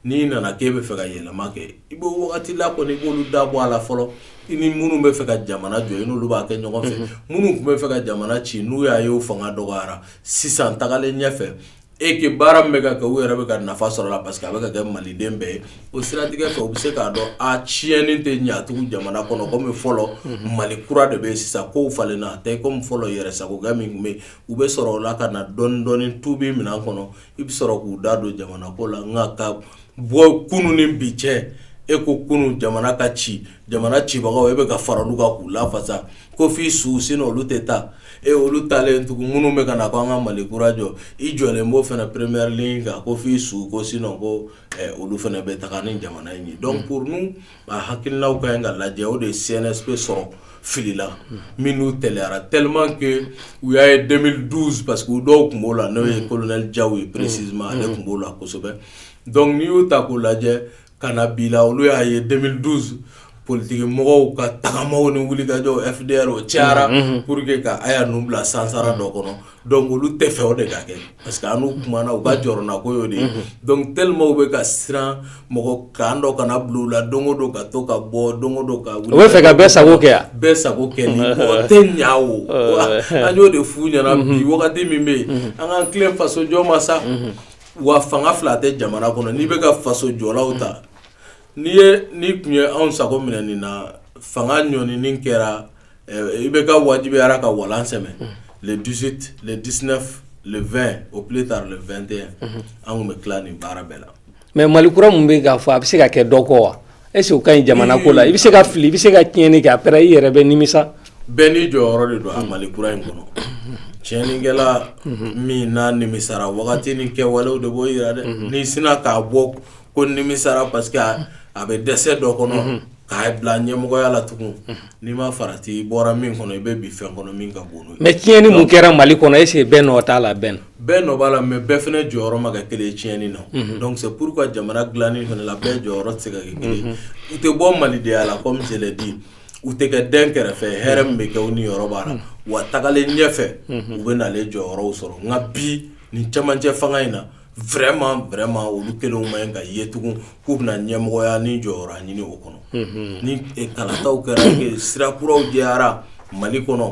n'i nana k'e bɛ fɛ ka yɛlɛma kɛ i bɛ wagati la kɔni i b'olu da bɔ a la fɔlɔ i ni minnu bɛ fɛ ka jamana jɔ i n'olu b'a kɛ ɲɔgɔn fɛ minnu tun bɛ fɛ ka jamana ci n'u y'a ye u fanga dɔgɔyara sisan tagalen ɲɛfɛ et que baara min bɛ ka kɛ u yɛrɛ bɛ ka nafa sɔrɔ a la parce que a bɛ ka kɛ maliden bɛɛ ye o siratigɛ fɛ u bɛ se k'a dɔn a tiɲɛni tɛ ɲɛ tugun jamana kɔnɔ komi fɔlɔ Mali kura de bɛ yen sisan kow falenna a tɛ komi fɔlɔ yɛrɛsagokɛ min tun bɛ yen u bɛ sɔrɔ o la ka na dɔɔnin dɔɔnin tubi minɛn kɔnɔ i bɛ sɔrɔ k'u da don jamana ko la nka ka bɔ kunun ni bi cɛ e ko kunun jamana ka ci jamana cibagaw e bɛ ka fara olu kan k'u lafasa ko f'i su sinon olu tɛ taa e olu talen tugun minnu bɛ ka na ko an ka mali kura jɔ i jɔlen b'o fana première ligne kan ko f'i su ko sinon ko olu fana bɛ taa ni jamana in ye donc pour nous a hakilinaw ka kan ka lajɛ o de ye CNSP sɔrɔ fili la minnu teliyara tellement que u y'a ye 2012 parce que u dɔw tun b'o la n'o ye colonel Diaw ye précisément ale tun b'o la kosɛbɛ donc n'i y'u ta k'u lajɛ ka na bi la olu y'a ye 2012 politiki mɔgɔw ka tagamaw ni wulikajɔw FDR o cayara pour que ka Aya ninnu bila sansara dɔ kɔnɔ donc olu tɛ fɛ o de ka kɛ parce que an n'u kumana u ka jɔrɔnako y'o de ye donc tellement u bɛ ka siran mɔgɔ kan dɔ kana bila u la don o don ka to ka bɔ don o don ka wuli u bɛ fɛ ka bɛɛ sago kɛ bɛɛ sago kɛ tɛ ɲa o an y'o de f'u ɲɛna bi wagati min bɛ yen an k'an tilen fasojɔ ma sa wa fanga fila tɛ jamana kɔnɔ n'i bɛ ka faso jɔlaw ta n'i ye n'i tun ye anw sago minɛ nin na fanga ɲɔni nin kɛra IBK wajibiyara ka walan sɛmɛ le 18 le 19 le 20 au plus tard le 21 an tun bɛ tila nin baara bɛɛ la mais mali kura min bɛ ka fɔ a bɛ se ka kɛ dɔ kɔ wa Est-ce que o ka ɲi jamana ko la i bɛ se ka fili i bɛ se ka tiɲɛni kɛ après i yɛrɛ bɛ nimisa bɛɛ n'i jɔyɔrɔ de don a mali kura in kɔnɔ tiɲɛnikɛla min n'a nimisara wagati ni kɛwalew de b'o yira dɛ n'i sinna k'a bɔ ko nimisara parce que a bɛ dɛsɛ dɔ kɔnɔ k'a bila ɲɛmɔgɔya la tugun n'i ma farati i bɔra min kɔnɔ i bɛ bin fɛn kɔnɔ min ka bon mais tiɲɛni mun kɛra mali kɔnɔ est-ce que bɛɛ nɔ t'a la bɛɛ bɛɛ nɔ b'a la mais bɛɛ fana jɔyɔrɔ ma kɛ kelen ye tiɲɛni na donc c'est pourquoi jamana dilanni fana la bɛɛ jɔyɔrɔ tɛ se ka kɛ kelen u tɛ bɔ malidenya la comme je l'ai dit u tɛ kɛ den kɛrɛfɛ hɛrɛ min bɛ kɛ u niyɔrɔ b'a la wa tagalen ɲɛfɛ u bɛ na jɔyɔrɔw sɔrɔ nka bi nin camancɛ fanga in na vraiment vraiment olu kelenw man kan ka ye tugun k'u bɛna ɲɛmɔgɔya ni jɔyɔrɔ ɲini o kɔnɔ ni kalata kɛra sira kuraw jɛyara mali kɔnɔ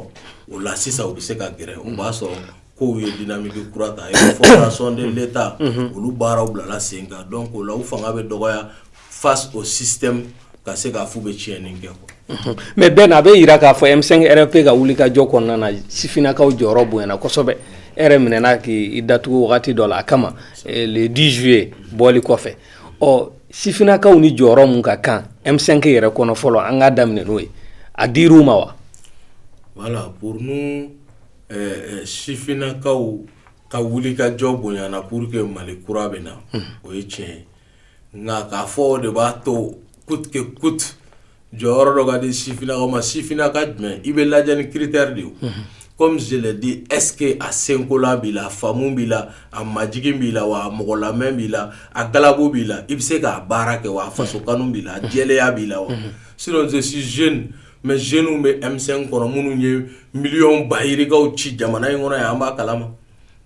o la sisan u bɛ se ka gɛrɛ u b'a sɔrɔ kow ye dynamique kura ta formation de l'Etat unhun, olu baaraw bilala sen kan donc o la u fanga bɛ dɔgɔya face au système ka se k'a f'u bɛ tiɲɛni kɛ quoi unhun, mais Ben a bɛ yira k'a fɔ M5 RFP ka wulikajɔ kɔnɔna na sifinnakaw jɔyɔrɔ bonyana kosɛbɛ, e yɛrɛ minɛna k'i datugu wagati dɔ la a kama le 10 juillet bɔli kɔfɛ, ɔ sifinnakaw ni jɔyɔrɔ min ka kan M5 yɛrɛ kɔnɔ fɔlɔ an k'a daminɛ n'o ye, a dir'u ma wa? Voilà pour nous ɛɛ sifinnakaw ka wulikajɔ bonyana pour que Mali kura bɛ na o ye tiɲɛ ye nka k'a fɔ o de b'a to coûte que coûte jɔyɔrɔ dɔ ka di sifinnakaw ma sifinnaka jumɛn i bɛ lajɛ ni critère de ye comme je l'ai dit est-ce que a senkola b'i la a faamu b'i la a majigin b'i la wa a mɔgɔ lamɛn b'i la a galabu b'i la i bɛ se k'a baara kɛ wa a faso kanu b'i la a jɛlenya b'i la wa sinon je suis jeune mais jeunes bɛ M5 kɔnɔ minnu ye miliyɔn ba yirikaw ci jamana in kɔnɔ yan an b'a kalama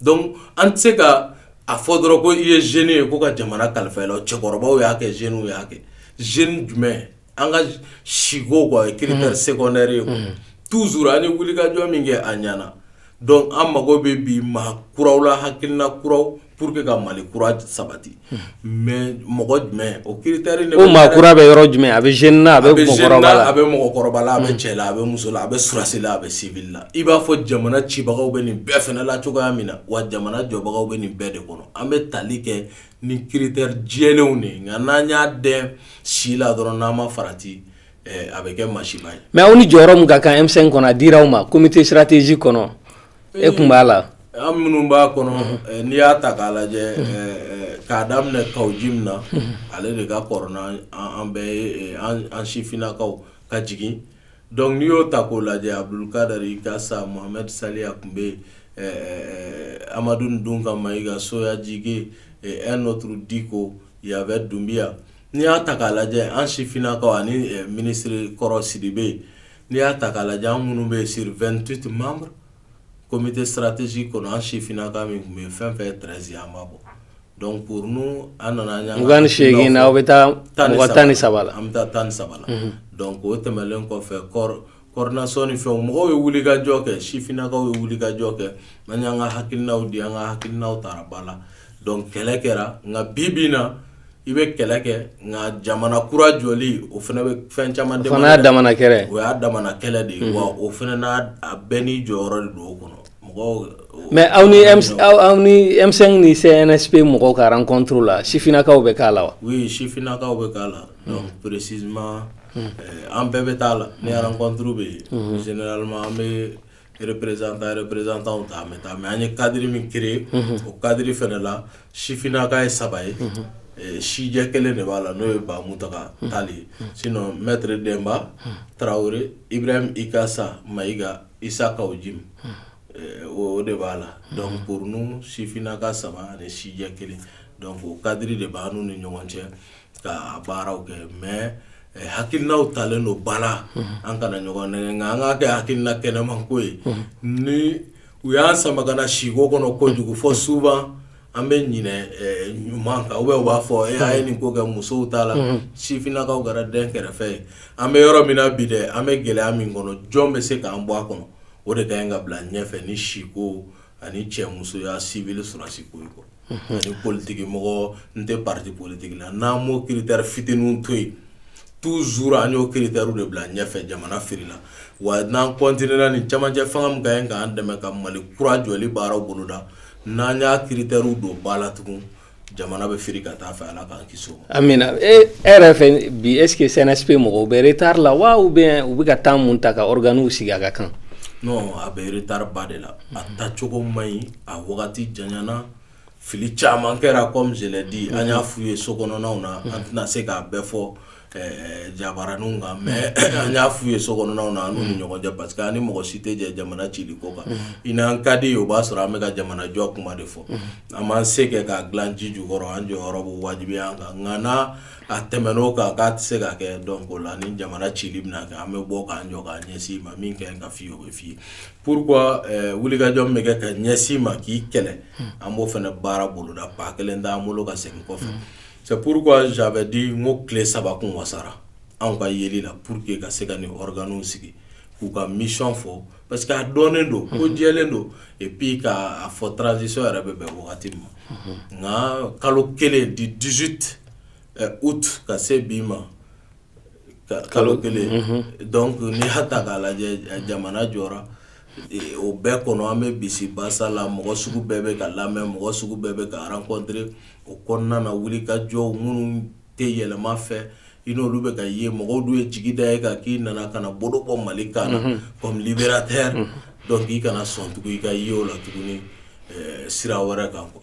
donc an tɛ se k'a fɔ dɔrɔn ko i ye jeune ye ko ka jamana kalifa i la cɛkɔrɔbaw y'a kɛ jeunes y'a kɛ jeune jumɛn an ka siko ye critère secondaire ye toujours an ye wulikajɔ min kɛ a ɲana donc an mago bɛ bi maa kuraw la hakilina kuraw pour que ka Mali kura sabati mais mɔgɔ jumɛn o critère de bɛ o maa kura bɛ yɔrɔ jumɛn a bɛ jeune na a bɛ mɔgɔkɔrɔba la a bɛ cɛ la a bɛ muso la a bɛ sɔrɔdasi la a bɛ civil la i b'a fɔ jamana cibagaw bɛ nin bɛɛ fana la cogoya min na wa jamana jɔbagaw bɛ nin bɛɛ de kɔnɔ an bɛ tali kɛ ni critère jɛlenw de ye nka n'an y'a dɛn si la dɔrɔn n'an ma farati a bɛ kɛ masiba ye mais aw ni jɔyɔrɔ min ka kan M5 kɔnɔ a dira aw ma comité stratégique kɔnɔ e tun b'a la an minnu b'a kɔnɔ n'i y'a ta k'a lajɛ k'a daminɛ Kaou Djim na ale de ka kɔrɔ n'an bɛɛ ye an sifinnakaw ka jigin donc n'i y'o ta k'o lajɛ Abdoul Kader Ikassa Mohamed Salia tun bɛ Amadou N'Dounga Maïga Soya Djigué et un autre Dicko il y avait Doumbia n'i y'a ta k'a lajɛ an sifinnakaw ani minisiri kɔrɔ Sidibé n'i y'a ta k'a lajɛ an minnu bɛ yen sur 28 membres comité stratégique kɔnɔ an sifinnaka min tun bɛ yen fɛn fɛn ye 13 ye an b'a bɔ donc pour nous an nana an y'an ka mugan ni seegin na aw bɛ taa mɔgɔ tan ni saba la an bɛ taa tan ni saba la donc o tɛmɛnlen kɔfɛ coordination ni fɛnw mɔgɔw ye wulikajɔ kɛ sifinnakaw ye wulikajɔ kɛ an y'an ka hakilinaw di an ka hakilinaw tara ba la donc kɛlɛ kɛra nka bi bi in na i bɛ kɛlɛ kɛ nka jamana kura jɔli o fana bɛ fɛn caman o y'a damana kɛlɛ de ye wa o fana na bɛɛ n'i jɔyɔrɔ de don o kɔnɔ mais aw ni M5 ni CNSP mɔgɔw ka rencontre la sifinnakaw bɛ k'a la wa oui sifinnakaw bɛ k'a la précisément an bɛɛ bɛ t'a la ni rencontre bɛ yen an bɛ représentantw ta mais an ye cadre min créer o cadre fana la sifininaka ye saba ye sijɛ kelen de b'a la n'o ye ba Muntaga Tall ye sinon maître Demba Traoré Ibrahim Ikassa Maïga Issa Kaou Djim o de b'a la donc pour nous sifininaka saba ani sijɛ kelen o cadre de b'an n'u ni ɲɔgɔn cɛ ka baaraw kɛ mais hakilina talen don ba la an kana ɲɔgɔn nɛgɛn an ka kɛ hakilina kɛnɛman ko ye ni u y'an sama ka na siko kɔnɔ kojugu fɔ souvent an bɛ ɲinɛ ɲuman kan u bɛɛ b'a fɔ a ye nin ko kɛ musow t'a la sifininakaw kɛra dɛnkɛrɛfɛ ye an bɛ yɔrɔ min na bi dɛ an bɛ gɛlɛya min kɔnɔ jɔn bɛ se k'an bɔ a kɔnɔ o de ka kan ka bila ɲɛfɛ ni siko ani cɛmusoya civil sɔrɔdasi ko in quoi unhun, ani politique mɔgɔ n tɛ parti politique la n'an m'o critère fitininw to yen toujours an y'o critère de bila ɲɛfɛ jamana filila wa n'an continuer la nin cɛmancɛ fanga min ka ɲi k'an dɛmɛ ka Mali kura jɔli baaraw boloda n'an y'a critère don ba la tugun jamana bɛ fili ka taa fɛ Ala k'an kisi o ma amiina e yɛrɛ fɛ bi est-ce que CNSP mɔgɔw bɛ retard la wa ou bien u bɛ ka temps min ta ka organew sigi a ka kan non a bɛ retard ba de la a taa cogo man ɲi a wagati janyana fili caman kɛra comme je l'ai dit an y'a f'u ye sokɔnɔnaw na an tɛna se k'a bɛɛ fɔ ɛɛ jabaraninw kan mais an y'a f'u ye sokɔnɔnaw na an n'u ni ɲɔgɔn cɛ parce que an ni mɔgɔ si tɛ jɛ jamana cili ko kan i n'an ka di o b'a sɔrɔ an bɛ ka jamanajɔ kuma de fɔ an b'an se kɛ k'a dilan ji jukɔrɔ an jɔyɔrɔ b'o wajibiya an kan nka n'a tɛmɛn'o kan k'a tɛ se ka kɛ donc o la ni jamana cili bɛna kɛ an bɛ bɔ k'an jɔ k'a ɲɛsin i ma min ka ɲi ka f'i ye o bɛ f'i ye pourquoi ɛɛ wulikajɔ min bɛ kɛ ka ɲɛsin i ma k'i kɛlɛ an b'o fana baara boloda pas kelen t'an bolo ka segin kɔfɛ C'est pourquoi j'avais dit n ko tile saba kun wasara anw ka yeli la pour que ka se ka nin organew sigi k'u ka mission fɔ parce que a dɔnnen don ko jɛlen don et puis k'a fɔ transition yɛrɛ bɛ bɛn wagati ma nka kalo kelen du dix-huit août ka se bi ma kalo kelen donc n'i y'a ta k'a lajɛ jamana jɔra O bɛɛ kɔnɔ an bɛ bisibasa la mɔgɔ sugu bɛɛ bɛ ka lamɛn mɔgɔ sugu bɛɛ bɛ ka rencontrer o kɔnɔna na wulikajɔ minnu tɛ yɛlɛma fɛ i n'olu bɛ ka ye mɔgɔw dun ye jigi da e kan k'i nana ka na bolo bɔ mali kan na comme libérateur donc i kana sɔn tugun i ka ye o la tuguni sira wɛrɛ kan quoi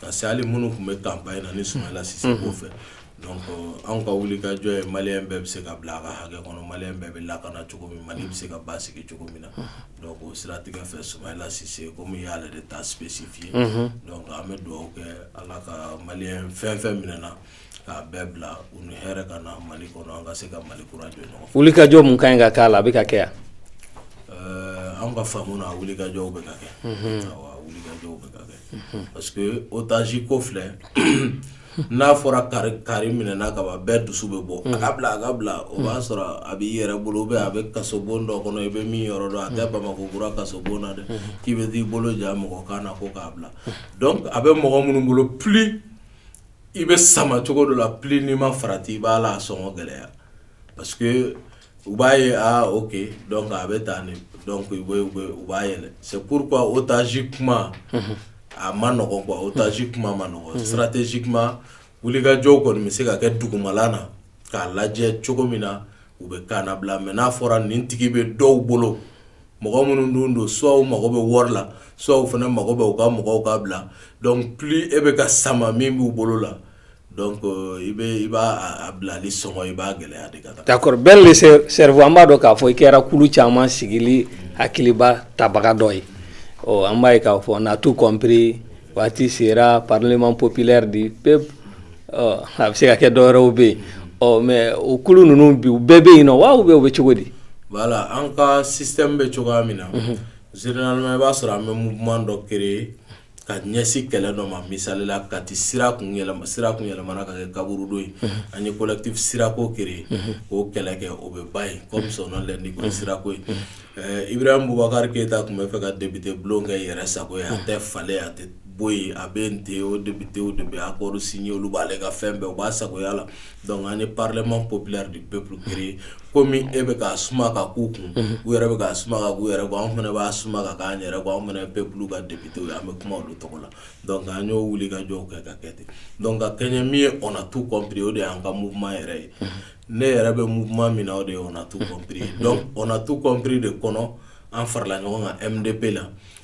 ka se hali minnu tun bɛ campagne na ni Soumaïla Cissé o fɛ anw ka wuli ka jɔ ye maliyɛn bɛɛ bɛ se ka bila a ka hakɛ kɔnɔ maliyɛn bɛɛ bɛ lakana cogo min mali bɛ se ka basigi cogo min na o siratigɛ fɛ Soumaïla Cissé komi i y'ale de ta spécifié an bɛ dugawu kɛ ala ka maliyɛn fɛn fɛn minɛna k'a bɛɛ bila u ni hɛrɛ ka na mali kɔnɔ an ka se ka mali kura jɔ ɲɔgɔn fɛ wuli ka jɔ mun ka ɲi ka k'a la a bɛ ka kɛ yan an ka faamu na wuli ka jɔ bɛ ka kɛ wuli ka jɔ bɛ ka kɛ parce que otage ko filɛ n'a fɔra kari minɛna kaban bɛɛ dusu bɛ bɔ a k'a bila a k'a bila o b'a sɔrɔ a b'i yɛrɛ bolo bɛ a bɛ kaso bon dɔ kɔnɔ i bɛ min yɔrɔ dɔn a tɛ bamakɔ kura kaso bon na dɛ k'i bɛ t'i bolo ja mɔgɔ kan na ko k'a bila donc a bɛ mɔgɔ minnu bolo plus i bɛ sama cogo dɔ la plus n'i ma farati i b'a la a sɔngɔ gɛlɛya parce u b'a ye aa ok donc a bɛ taa donc u b'a yɛlɛ c'est pourquoi otage kuma a ma nɔgɔ quoi otage kuma ma nɔgɔ stratégiquement wulikajɔw kɔni bɛ se ka kɛ dugumala na k'a lajɛ cogo min na u bɛ ka labila mais n'a fɔra nin tigi bɛ dɔw bolo mɔgɔ minnu dun don soit u mago bɛ wari la soit u fana mago bɛ u ka mɔgɔw ka bila plus e bɛ ka sama min b'u bolo la Donc i b'a bilali sɔngɔ i b'a gɛlɛya de ka taa d'accord Ben le cerveau an b'a dɔn k'a fɔ i kɛra kulu caman sigili hakiliba tabaga dɔ ye ɔ an b'a ye k'a fɔ on a tout compris waati sera parlement populaire du peuple a bɛ se ka kɛ dɔwɛrɛw bɛ yen ɔ mais o kulu ninnu bi u bɛɛ bɛ yen na wa ou bien u bɛ cogo di voilà an ka système bɛ cogoya min na généralement i b'a sɔrɔ an bɛ mouvement dɔ créer ka ɲɛsin kɛlɛ dɔ ma misalila Kati sira kun yɛlɛma sira kun yɛlɛmana ka kɛ kaburudon ye an ye collectif sirako créer k'o kɛlɛ kɛ o bɛ ban yen comme son nom l'indique o ye sirako ye Ibrahim Boubacar Keita tun bɛ fɛ ka député bulon kɛ yɛrɛ sago ye a tɛ falen a tɛ bɔ yen a bɛ yen ten o députéw de bɛ accord signer olu b'ale ka fɛn bɛɛ u b'a sagoya la. Dɔnku an ni parlɛma ko bila de bɛpere ko min e bɛ ka suma ka ko kun u yɛrɛ bɛ ka suma ka yɛrɛ an fana b'a suma ka k'an yɛrɛ bɔ an fana bɛɛlu ka debite an bɛ kuma olu tɔgɔ la dɔnku an y'o wuli ka jɔ kɛ ka kɛ ten dɔnku ka kɛ min ye kɔnɔ tu kɔnpere o de y'an ka munma yɛrɛ ye ne yɛrɛ bɛ munma min o de ye tu kɔnpere dɔn tu kɔnpri de kɔnɔ an farala ɲɔgɔn kan e de bɛ la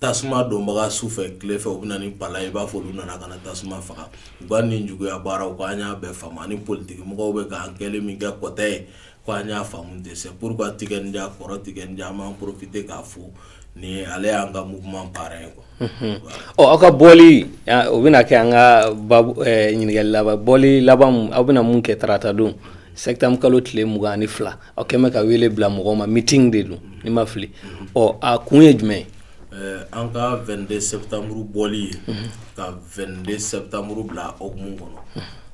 tasuma donbaga su fɛ tile fɛ u bɛ na ni palan i b'a fɔ olu nana ka na tasuma faga u ka nin juguya baaraw ko an y'a bɛɛ faamu ani politigimɔgɔw bɛ k'an kɛ min kɛ kɔtɛ ye ko an y'a faamu ten c'est pourquoi Tiken Jah kɔrɔ Tiken Jah an b'an profiter k'a fo ni ale y'an ka mouvement parrain ye quoi ɔ aw ka bɔli o bɛna kɛ an ka ɲininkali laban bɔli laban aw bɛna mun kɛ tarata don septembre kalo tile mugan ani fila aw kɛlen bɛ ka wele bila mɔgɔw ma miting de don ni ma fili ɔ a kun ye jumɛn ye an ka 22 septembre bɔli ye ka 22 septembre bila o hukumu kɔnɔ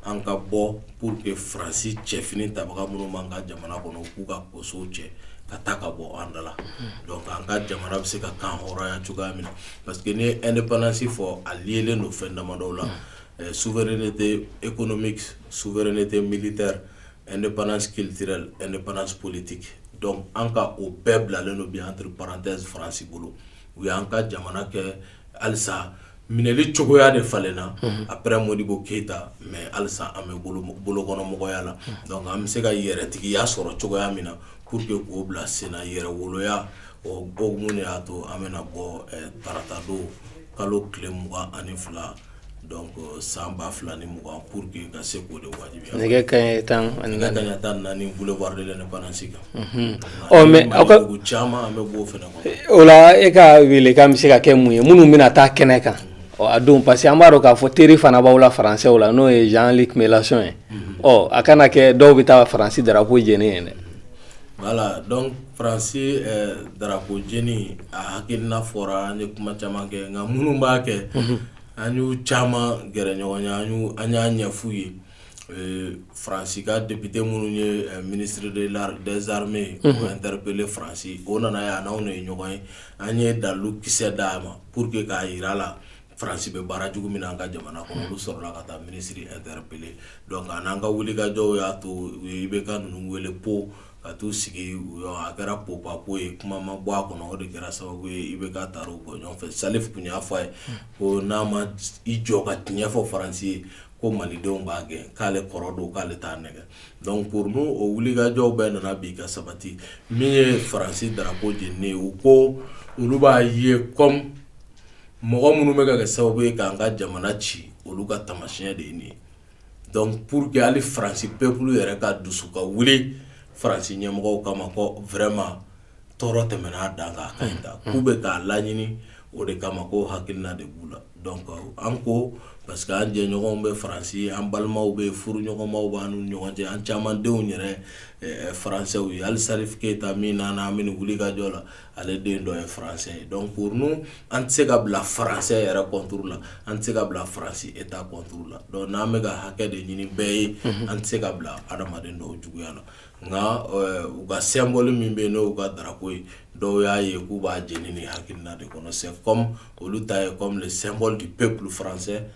an ka bɔ pour que faransi cɛfini tabaga minnu b'an ka jamana kɔnɔ k'u ka kosow cɛ ka taa ka bɔ an da la donc an ka jamana bɛ se ka kanhɔrɔnya cogoya min na parce que n'i ye indépendance fɔ a liélen don fɛn damadɔw la souveraineté économique souveraineté militaire indépendance culturelle indépendance politique donc an ka o bɛɛ bilalen don bi entre parenthèses faransi bolo u y'an ka jamana kɛ halisa minɛli cogoya de falenna après Modibo Keyita mais halisa an bɛ bolokɔnɔmɔgɔya la donc an bɛ se ka yɛrɛtigiya sɔrɔ cogoya min na pour que k'o bila sen na yɛrɛwoloya o hukumu de y'a to an bɛna bɔ tarata don kalo tile mugan ani fila Donc san 2020 pour que ka se k'o de wajibiya, nɛgɛ kanɲɛ 14 boulevard de l'indépendance kan, unhun, ɔ mais aw ka, dugu caman an bɛ b'o fana kɔnɔ, o la e ka welekan bɛ se ka kɛ mun ye minnu bɛna taa kɛnɛ kan a don parce que an b'a dɔn k'a fɔ teri fana b'aw la faransɛw la n'o ye Jean Luc Mélenchon ye, unhun, ɔ a kana kɛ dɔw bɛ taa Faransi drapeau jeni yen dɛ Voilà donc faransi drapeau jeni a hakilina fɔra an ye kuma caman kɛ nka minnu b'a kɛ an y'u caman gɛrɛ ɲɔgɔn ye an y'a ɲɛf'u ye faransi ka député minnu ye ministre des armées interpellé faransi o nana yan a n'anw de ye ɲɔgɔn ye an ye dalu kisɛ d'a ma pour que k'a yira a la faransi bɛ baara jugu min na an ka jamana kɔnɔ olu sɔrɔla ka taa minisiri interpellé donc an ka wulikajɔw y'a to IBK ninnu wele Pau ka t'u sigi a kɛra popapo ye kuma ma bɔ a kɔnɔ o de kɛra sababu ye IBK taara u bɔ ɲɔgɔn fɛ Salif tun y'a fɔ a ye ko n'a ma i jɔ ka tiɲɛ fɔ faransi ye ko malidenw b'a gɛn k'ale kɔrɔ don k'ale t'a nɛgɛn donc pour nous o wulikajɔw bɛɛ nana bi ka sabati min ye faransi drapeau jeni ye ko olu b'a ye comme mɔgɔ minnu bɛ ka kɛ sababu ye k'an ka jamana ci olu ka taamasiyɛn de ye nin ye donc pour que hali France peuple yɛrɛ ka dusu ka wuli France ɲɛmɔgɔw kama ko vraiment tɔɔrɔ tɛmɛna a dan kan a ka ɲi tan k'u bɛ k'a laɲini o de kama ko hakilina de b'u la donc an ko parce que an jɛɲɔgɔnw bɛ France an balimaw bɛ yen furuɲɔgɔnmaw b'an n'u ni ɲɔgɔn cɛ an caman denw yɛrɛ Français ye hali Salif Keyita min nana an bɛ nin wulikajɔ la ale den dɔ ye faransɛ ye donc pour nous an tɛ se ka bila faransɛ yɛrɛ contre la an tɛ se ka bila faransi État contre la donc n'an bɛ ka hakɛ de ɲini bɛɛ ye an tɛ se ka bila adamaden dɔw juguya la nka u ka symbole min bɛ yen n'u ka drapeau ye dɔw y'a ye k'u b'a jeni nin hakilina de kɔnɔ c'est comme olu ta ye comme le symbole du peuple français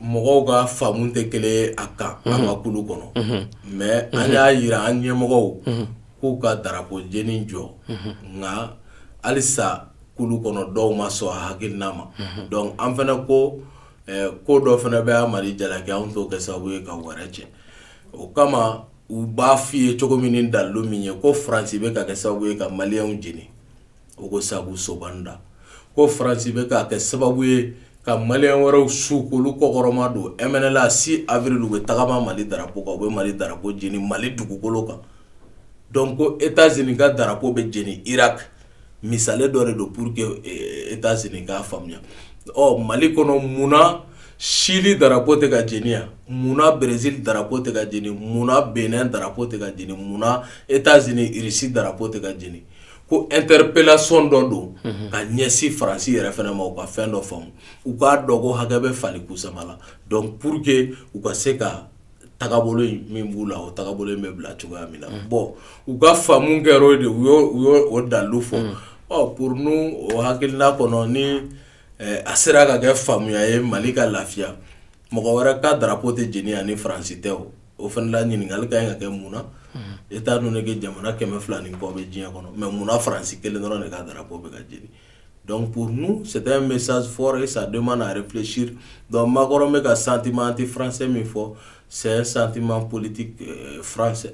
mɔgɔw ka faamu tɛ kelen ye a kan an ka kulu kɔnɔ mais an y'a yira an ɲɛmɔgɔw k'u ka darapo jeni jɔ nka halisa kulu kɔnɔ dɔw ma sɔn a hakilina ma donc an fana ko ko dɔ fana bɛ mali jalaki anw t'o kɛ sababu ye ka wɛrɛ cɛ o kama u b'a f'i ye cogo min ni dalu min ye ko faransi bɛ k'a kɛ sababu ye ka maliyɛnw jeni o ko sabu soban da ko faransi bɛ k'a kɛ sababu ye ka maliyɛn wɛrɛw su k'olu kɔkɔrɔma don mnla six avril u bɛ tagama mali darapo kan u bɛ mali darapo jeni mali dugukolo kan donc ko états-unis ka darapo bɛ jeni irak misale dɔ de don pour que états-unis k'a faamuya ɔ mali kɔnɔ munna chili darapo tɛ ka jeni yan munna brésil darapo tɛ ka jeni munna bénin darapo tɛ ka jeni munna états-unis irisi darapo tɛ ka jeni ko interpellation dɔ don ka ɲɛsin faransi yɛrɛ fana ma u ka fɛn dɔ faamu u k'a dɔn ko hakɛ bɛ fali kusama la donc pour que u ka se ka tagabolo min b'u la o tagabolo in bɛ bila cogoya min na bon u ka faamu kɛra o de u y'o dalu fɔ pour nous o hakilina kɔnɔ ni a sera ka kɛ faamuya ye mali ka lafiya mɔgɔ wɛrɛ ka darapo tɛ jeni yan ni faransi tɛ o o fana la ɲininkali ka ɲi ka kɛ mun na étant donné que jamana kɛmɛ fila ni kɔ bɛ diɲɛ kɔnɔ mais munna faransi kelen dɔrɔn de ka darapo bɛ ka jeni pour nous c'est un message fort ça demande à réfléchir donc macron bɛ ka sentiment anti-français min fɔ c'est un sentiment politique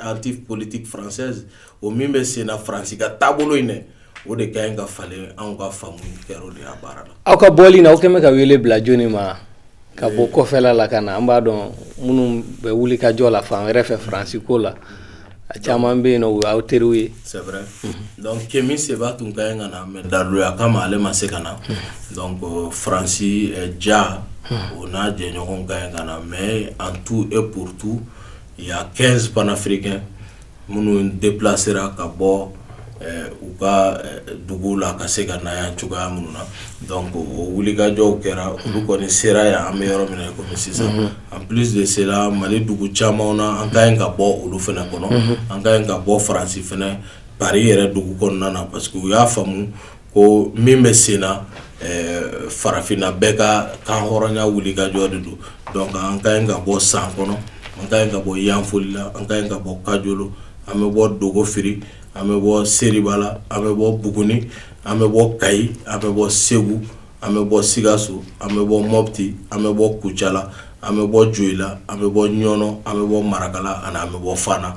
anti-politique française o min bɛ sen na faransi ka taabolo in dɛ o de ka ɲi ka falen anw ka faamu kɛra o de y'a baara la aw ka bɔli na aw kɛlen bɛ ka wele bila jɔnni ma ka bɔ kɔfɛla la ka na an b'a dɔn minnu bɛ wuli ka jɔ la fan wɛrɛ fɛ faransi ko la a caman bɛ yen n'o y'aw teriw ye kemi seba tun ka ɲi ka na mais daluya kama ale ma se ka na ko faransi ja o n'a jɛɲɔgɔnw ka ɲi ka na mais en tout et pour tout il y a quinze panafricains minnu déplacéra ka bɔ u ka dugu la ka se ka na yan cogoya minnu na donc o wulikajɔw kɛra olu kɔni sera yan an bɛ yɔrɔ min na kɔmi sisan en plus de cela mali dugu caman na an ka ɲi ka bɔ olu fana kɔnɔ an ka ɲi ka bɔ faransi fana paris yɛrɛ dugu kɔnɔna na parce que u y'a faamu ko min bɛ sen na farafinna bɛɛ ka kanhɔrɔnya wulikajɔ de don donc an ka ɲi ka bɔ san kɔnɔ an ka ɲi ka bɔ yanfolila an ka ɲi ka bɔ kajolo an bɛ bɔ dogofiri an bɛ bɔ seribala an bɛ bɔ buguni an bɛ bɔ kayi an bɛ bɔ segu an bɛ bɔ sikaso an bɛ bɔ mɔti an bɛ bɔ kucala an bɛ bɔ joyila an bɛ bɔ ɲɔnɔ an bɛ bɔ marakala ani an bɛ bɔ fana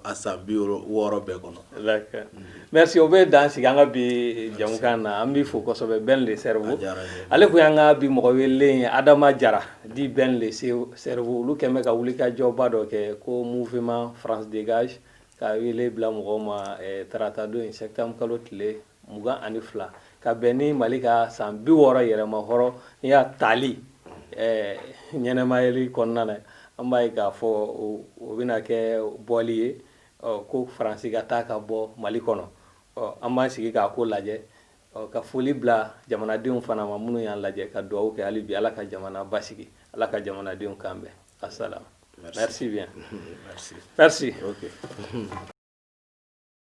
a san bi wɔɔrɔ bɛɛ kɔnɔ merci o bɛ dan sigi an ka bi jamukan na an b'i fo kosɛbɛ ben le cerveau ale kun y'an ka bi mɔgɔ welelen ye adama jara dit ben le cerveau olu kɛlen bɛ ka wulikajɔba dɔ kɛ ko mouvement france dégage ka wele bila mɔgɔw ma tarata don in septembre kalo tile mugan ani fila ka bɛn ni mali ka san bi wɔɔrɔ yɛrɛmahɔrɔnya tali ɲɛnamayali kɔnɔna na an b'a ye k'a fɔ o bɛna kɛ bɔli ye ko faransi ka taa ka bɔ mali kɔnɔ an b'an sigi k'a ko lajɛ ka foli bila jamanadenw fana ma minnu y'an lajɛ ka dugawu kɛ hali bi ala ka jamana basigi ala ka jamanadenw kan bɛn asalam merci bien merci